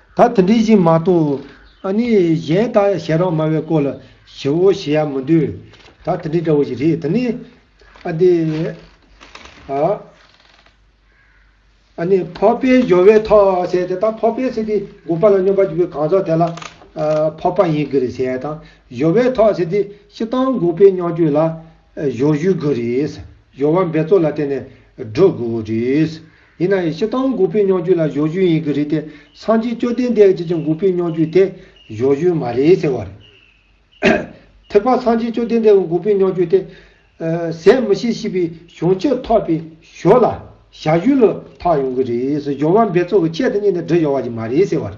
ད་དེ་འདྲའི་ཞིག་མ་གཏོགས་ཨ་ནི་གཞན་དག་ཞལ་རང་དམའ་བའི་སྐོར་ལ་ཞི་བོ་ཞི་ཡག་མི་འདུག་ད་དེ་འདྲའི་འདྲ་བོ་ཞིག་རེད་དེ་ནི། ཨ་དེ། ཨ། ཨ་ནི་ཕོ་པའི་གཞོ་བའི་ཐོག་ཟེར་དེ་དག་ཕོ་པའི་ཟེར་དེ་སྒུག་པ་ལ་སྙོམས་པ་གྱུར་པའི་གང་ཟག་དེ་ལ། ཕོ་པ་ཡིན་གྱི་རེད་ཟེར་ཡ་དང་གཞོ་བའི་ཐོག་ཟེར་དེ་ཤི་སྟངས་སྒུག་པའི་སྙོགས་འགྱོད་ལ། སྦྱོར་བཞུགས་དགོས་རེད། སྦྱོར་བ་འབད་རྩོལ་ལ་བརྟེན་ནས་སྒྲུབ་དགོས་རེད། ཡིན་ན་ཡང་ཕྱི་རྟགས་འགུགས་པའི་སྙོགས་རྒྱུད་ལ་སྦྱོར་བཞུགས་ཡིན་གྱི་རེད་དེ་སངས་རྒྱས་བཅོ་ལྡན་འདས་ཀྱིས་ཀྱང་འགུགས་པའི་སྙོགས་རྒྱུད་དེ་སྦྱོར་བཞུགས་མ་རེད་ཟེར་བ་རེད། ཐེག་པ་སངས་རྒྱས་བཅོ་ལྡན་འདས་ཀྱི་འགུགས་པའི་སྙོགས་རྒྱུད་དེ། ཟད་མི་ཤེས་ཤེས་པའི་བྱུང་ཕྱིར་ཐོགས་པའི་ཞོར་ལ་བྱ་བཞུགས་ལ་ཐོགས་ཡོང་གི་རེད། སྦྱོར་བ་འབད་རྩོལ་གྱི་ཆེད་དུ་གཉིས་ནས་སྒྲིལ་ཡོང་བ་ཞིག་མ་རེད་ཟེར་བ་རེད།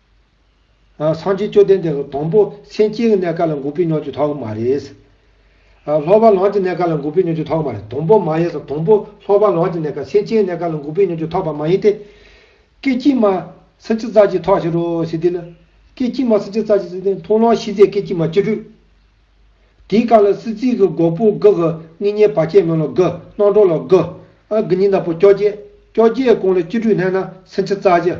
སངས་རྒྱས་བཅོ་ལྡན་འདས་སུ་དང་པོ་སེམས་བསྐྱེད་ཀྱི་གནས་ག་ལ་འགུགས་པའི་མྱོང་བྱེད་ཐོག་མ་རེད། ལྷག་པར་ལམ་གྱི་གནས་ག་ལ་འགུགས་པའི་མྱོང་བྱེད་ཐོག་མ་རེད་དང་པོ་མ་ཡིན་སོ་དང་པོ་ལྷག་པར་ལམ་གྱི་གནས་ག་སེམས་བསྐྱེད་ཀྱི་གནས་ག་ལ་འགུགས་པའི་མྱོང་བྱེད་ཐོག་པ་མ་ཡིན་ཏེ། སྐད་ཅིག་མ་སེམས་བསྐྱེད་རྩ་གཅིག་ཐོག་ཕྱི་རོལ་ཞི་བདེ་ལ། སྐད་ཅིག་མ་སེམས་བསྐྱེད་རྩ་གཅིག་ཐོག་མཐོང་ལམ་ཤེས་བྱའི་སྐད་ཅིག་མ་སྤྱི་བྲུས། དེའི་སྐབས་ལ་སྲིད་རྩེའི་གི་གོག་པུ་གི་གི་གཉིས་གཉིས་བར་ཆད་མེད་ལ་གི་སྣང་གྲོགས་ལ་གི། ཨ་གི་གཉིས་ནག་པོ་ཀྱོ་བརྒྱད་ཀྱོ་བརྒྱད་གང་ལ་སྤྱི་བྲུས་བསྣན་ན་སེམས་བསྐྱེད་རྩ་གཅིག།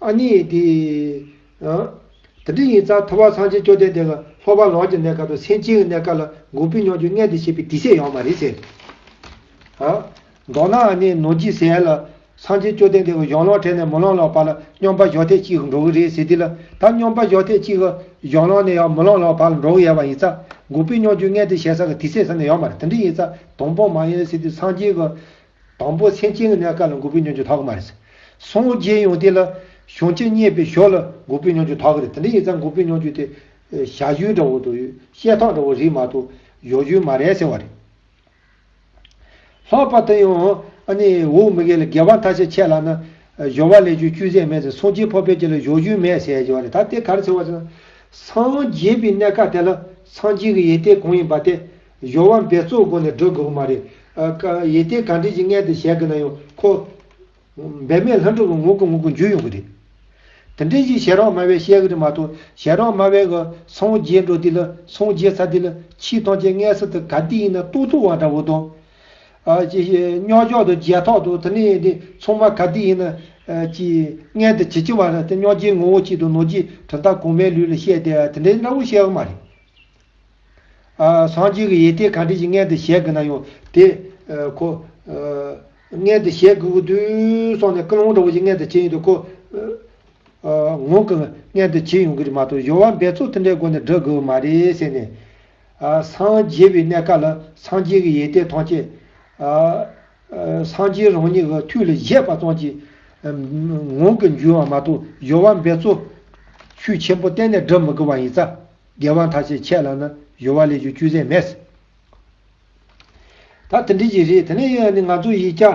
ཨ་ནི། དེ་འདྲའི་ཡིན་ཙང་ཐུབ་བ་སངས་རྒྱས་བཅོ་ལྡན་འདས་ལ་སློབ་པ་ལོངས་ཀྱི་གནས་སྐབས་དང་སེམས་ཅན་གྱི་གནས་སྐབས་ལ་འགུགས་པའི་སྙོགས་འགྱུར་ལྔས་འདི་བྱས་པའི་དུས་ཚོད་ཡོང་བ་རེད་ཟེར། མདོར་ན་ཨ་ནི་ནོར་གྱིས་ཟས་ལ། སངས་རྒྱས་བཅོ་ལྡན་འདས་ཀྱི་གཞུང་ཀློག་འཕྲལ་ནས་མི་ཀློག་ཀློག་བར་ལ་སྙོམས་པ་ཞོག་ཐེངས་གཅིག་འགྲོ་གི་རེད་ཟེར་དུས་ལ་ད་སྙོམས་པ་ཞོག་ཐེངས་གཅིག་གཞུང་ཀློག་ནས་ཡང་མི་ཀློག་ཀློག་བར་ལ་འགྲོ་གི་ཡལ་བ་ཡིན་ཙང་འགུགས་པའི་སྙོགས་འགྱུར་ལྔས་འདི་བྱས་ས་གི་དུས་ཚོད་ཟེར་ནས་ཡོང་བ་རེད་དེ་འདྲའི་ཡིན་ཙང་དང་པོ་མ་ཡིན་ཟེར་དུས་སངས་རྒྱས་ཀྱི་དང་པོ་སེམས་ཅན་གྱི་གནས་སྐབས་ལ་འགོག་པའི་མྱོང་བྱེད་དག་གི་མ་རེད། སངས་རྒྱས་ཡོངས་དེ་ལ། བྱུང་ཆེ་རྙེད་པའི་ཞོར་ལ་འགོག་པའི་མྱོང་བྱེད་དག་གི་རེད། དེ་འདྲ་ཡིན་ཙང་འགོག་པའི་མྱོང་བྱེད་དེ། ཞལ་བཞུན་འདྲ་བོ་དང་བཤད་སྟངས་འདྲ་བོ་རིགས་མ་གཏོགས། ཡོ་བཞུན་མ་རེད་ཟེར་བ་རེད། ལྷག་པར་དུ་ཡང། འོག་མི་འགས་ལ་དགེ་བ་མཐའ་ཤས་ཆད་ལགས་ན། གཞོལ་བ་ལས་ཆོས་བཅུའི་ཟས་མེད་ཟེར་སངས་རྒྱས་འཕགས་པས་ཀྱི་ལ་ཡོ་བཞུན་མེད་ཟེར་བ་རེད་ད་དེ་ག་རེ་ཟེར་བ་ཟེར་ན། སངས་རྒྱས་པའི་གནས་སྐབས་དེ་ལ་སངས་རྒྱས་ཀྱི་ཡེ་ཏེ་གང་ཡིན་པ་དེ། གཞོག་བ་འབེ་བཙོག་སྒོ་ནས་འགྲོ་དགོས་པ་མ་རེད། ཡེ་ཏེ་ག་འདྲེ་ཅིག་མངལ་དེ་བཞད་གི་ན་ཡོང་ཁོ། འབེ་མས་ལྷ་འགྲོ་གི་ངུ་གུ་ངུ་གུ་འཇུས་ཡོང་གི་རེད། དེ་འདྲེ་ཅིག་ཞལ་རོགས་དམའ་བས་བཤད་གི་རེད་མ་གཏོགས་ཞལ་རོགས་དམའ་བས་གི་སངས་རྒྱས་འགྲོ་འདི་ལ་སངས་རྒྱས་ཚ་འདི་ལ་ཕྱིས་གཏོང་ཆེད་མངལ་ས་དེ་ག་འདི་ཡིན་ན་ལྟུག་ལྟུག་བ་འདྲ་བོ་དང། རྙོག་འཇོག་དང་བརྗེད་ཐོག་དང་དེ་ནས་དེ་ཚོང་མ་ག་འདི་ཡིན་ན། ཅི། མངལ་དེ་ཇི་ཅི་བ་ར་དེ་རྙོག་རྗེའི་ངོ་བོ་གཅིག་དང་ནོར་རྗེའི་གྲུབ་མཐའ་གོང་མའི་ལུས་ལ་བཤད་དེ་དེ་འདྲེ་འདྲ་བོ་བཤད་གི་མ་རེད། སངས་རྒྱས་ཀྱི་ཡེ་དེ་གང་དྲིན་གྱིས་མངལ་དུ་བཞེས་དགོས་ན་ཡང་དེ། ཁོ། མངལ་དུ་བཞེས་དགོས་ཀྱི་དུས་སོང་ནས་སྐུ་ལུང་དྲག་པོ་ཞིག་མངལ་དུ་བྱེད་ཡོང་དུས་ཁོ། ངོ། མངལ་དུ་བྱེད་ཡོང་གི་རེད་མ་གཏོགས་གཞོགས་བ་འབད་བཙོག་ཐུན་བྲལ་སྒོ་ནས་བསྒྲུབ་དགོས་པ་མ་རེད་ཟེར་ནས། སངས་རྒྱས་པའི་གནས་སྐབས་ལ་སངས་རྒྱས་ཀྱི་ཡེ་དེ་ཐམས་ཅད། སངས་རྒྱས་རང་ཉིད་ཀྱི་མཐུ་ལ་བཞེས་པ་ཙམ་གྱིས། ངང་གིས་འགྱུར་བ་མ་གཏོགས་གཞོགས་བ་འབད་བཙོག། ཤུགས་ཆེན་པོ་གཏན་ནས་བསྒྲུབ་མི་དགོས་པ་ཡིན་ས། རྒྱལ་དབང་ཐ་ཆད་ཆད་ལགས་ན་གཞོལ་བ་ལས་ཀྱི་བཅུད་ཟད་མེད། ད་དེ་འདྲི་གྱི་རེད་དེ་ནས་ཡོད་ནི་ང་ཚོ་ཡིག་སྐྱ།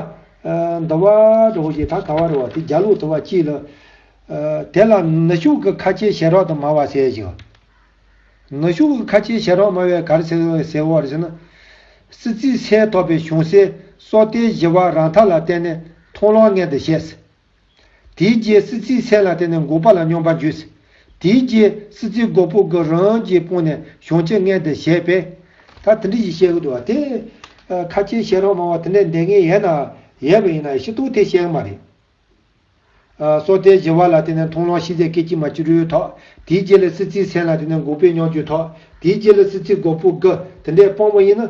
འདི་བ། འདྲ་བོ་ཞིག་ད་ག་བ་རེད་བ་དེ་རྒྱ་ལུགས་དུ་བ་གཅིག་ལ། དེ་ལ་ནུ་ཤུགས་ཀྱི་ཁ་ཆེའི་ཞལ་རོགས་དུ་མ་བ་ཟེར་ཞིང། ནུ་ཤུགས་ཀྱི་ཁ་ཆེའི་ཞལ་རོགས་མ་བའི་གར་ཟེར་བ་རེད་ཟེར་ན། སྲིད་རྩིས་སའི་ཐོབ་པའི་གཞུང་སའི་སོག་ཏའི་བཞི་བ་རང་ཐ་ལ་བལྟས་ནས་མཐོང་ལོང་ངན་དུ་བཤད། དེའི་རྗེས་སྲིད་རྩེའི་ཚལ་ལ་བརྟེན་ནས་འགོག་པ་ལ་སྙོམས་པར་འཇུས། དེའི་རྗེས་སྲིད་རྩེའི་སྒོ་སྤུ་གུ་རང་གིས་སྤུངས་ནས་གཞུང་ཆེ་ལྔའི་དེ་བཞེད་པས། ད་དེ་འདྲི་ཞིག་བཤད་གི་འདུག་བ་དེ། ཁ་ཆེའི་ཤེས་རབ་མང་བ་དེ་འདྲའི་འདས་ངེས་ཡས་ན་ཡས་པ་ཡིན་ན་ཤི་ཏུག་དེ་བཤད་གི་མ་རེད། སྲོག་ལྟའི་བཞི་བ་ལ་བརྟེན་ནས་མཐོང་ལོང་ཤི་ཟད་སྐད་ཅིག་མ་ཅི་རུའི་ཐོག་དེའི་རྗེས་ལས་སྲིད་རྩེའི་ཚལ་ལ་བརྟེན་ནས་འགོག་པའི་སྙོགས་འཇུག་ཐོག་དེའི་རྗེས་ལས་སྲིད་རྩེའི་སྒོ་སྤུ་གུ་དེ་འདྲས་སྤོང་བ་ཡིན་ན།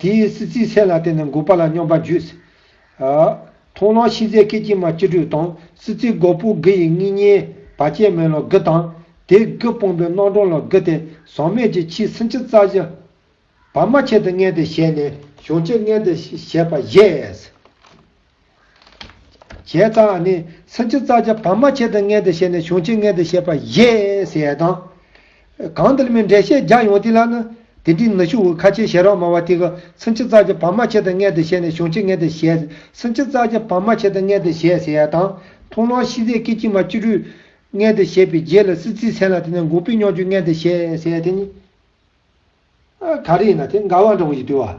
དེའི་སྲིད་རྩེའི་ཚད་ལ་བརྟེན་ནས་འགོག་པ་ལ་སྙོམས་པར་འཇུག། མཐོང་ལམ་ཤིང་རྩའི་སྐད་ཅིག་མ་སྐྱེ་དྲུག་དང་སྲིད་རྩེའི་འགོག་པོ་དགུ་ཡི་གཉིས་བསྙེན་པ་སྐྱེ་མེད་ལོ་དགུ་དང། དེ་དགུ་སྤངས་པའི་སྣང་གྲོང་ལོ་དགུ་སྟེ་ཟག་མེད་ཀྱི་ཕྱིའི་སུན་ཕྱི་རྩ་བཞི། བར་མ་ཁྱད་དུ་བསྙེན་ཏེ་བཤད་ནས་གཞོགས་ཕྱི་བསྙེན་ཏེ་བཤད་པ་བཞེས། བྱས་ཙང་ནི་སུམ་ཅུ་རྩ་བརྒྱད་བར་མ་ཕྱེད་དུ་མངལ་དུ་བྱས་ནས་བྱུང་ཕྱིར་མངལ་དུ་བྱས་པ་བཞེས་ཟེར་དང། གང་འདིར་མི་འབྲལ་ཤེས་བརྒྱག་ཡོང་དེ་ལ་ནི། དེ་འདྲའི་ནུ་ཞུ་བོའི་ཁ་ཆེའི་ཞལ་རོགས་སྨྲ་བ་དེ་ག་སུམ་ཅུ་རྩ་བརྒྱད་བར་མ་ཕྱེད་དུ་མངལ་དུ་བྱས་ནས་བྱུང་ཕྱིར་མངལ་དུ་བྱས། སུམ་ཅུ་རྩ་བརྒྱད་བར་མ་ཕྱེད་དུ་མངལ་དུ་བྱས་ཟེར་དང། ཐུང་ལོང་ཤི་ཟས་སྐེ་སྐྱིལ་མ་བཅུ་དྲུག། མངལ་དུ་བྱས་པའི་རྗེས་ལ་སྲིད་རྩེའི་ཚན་ལ་དེ་ནས་འགུགས་པའི་སྙོགས་འགྱུར་མངལ་དུ་བྱས་ཟེར་དེ་ནི། ག་རེ་ཡིན་ན་དེ་འགའ་བ་འདྲ་བོ་ཞིག་བསྡུས་བ།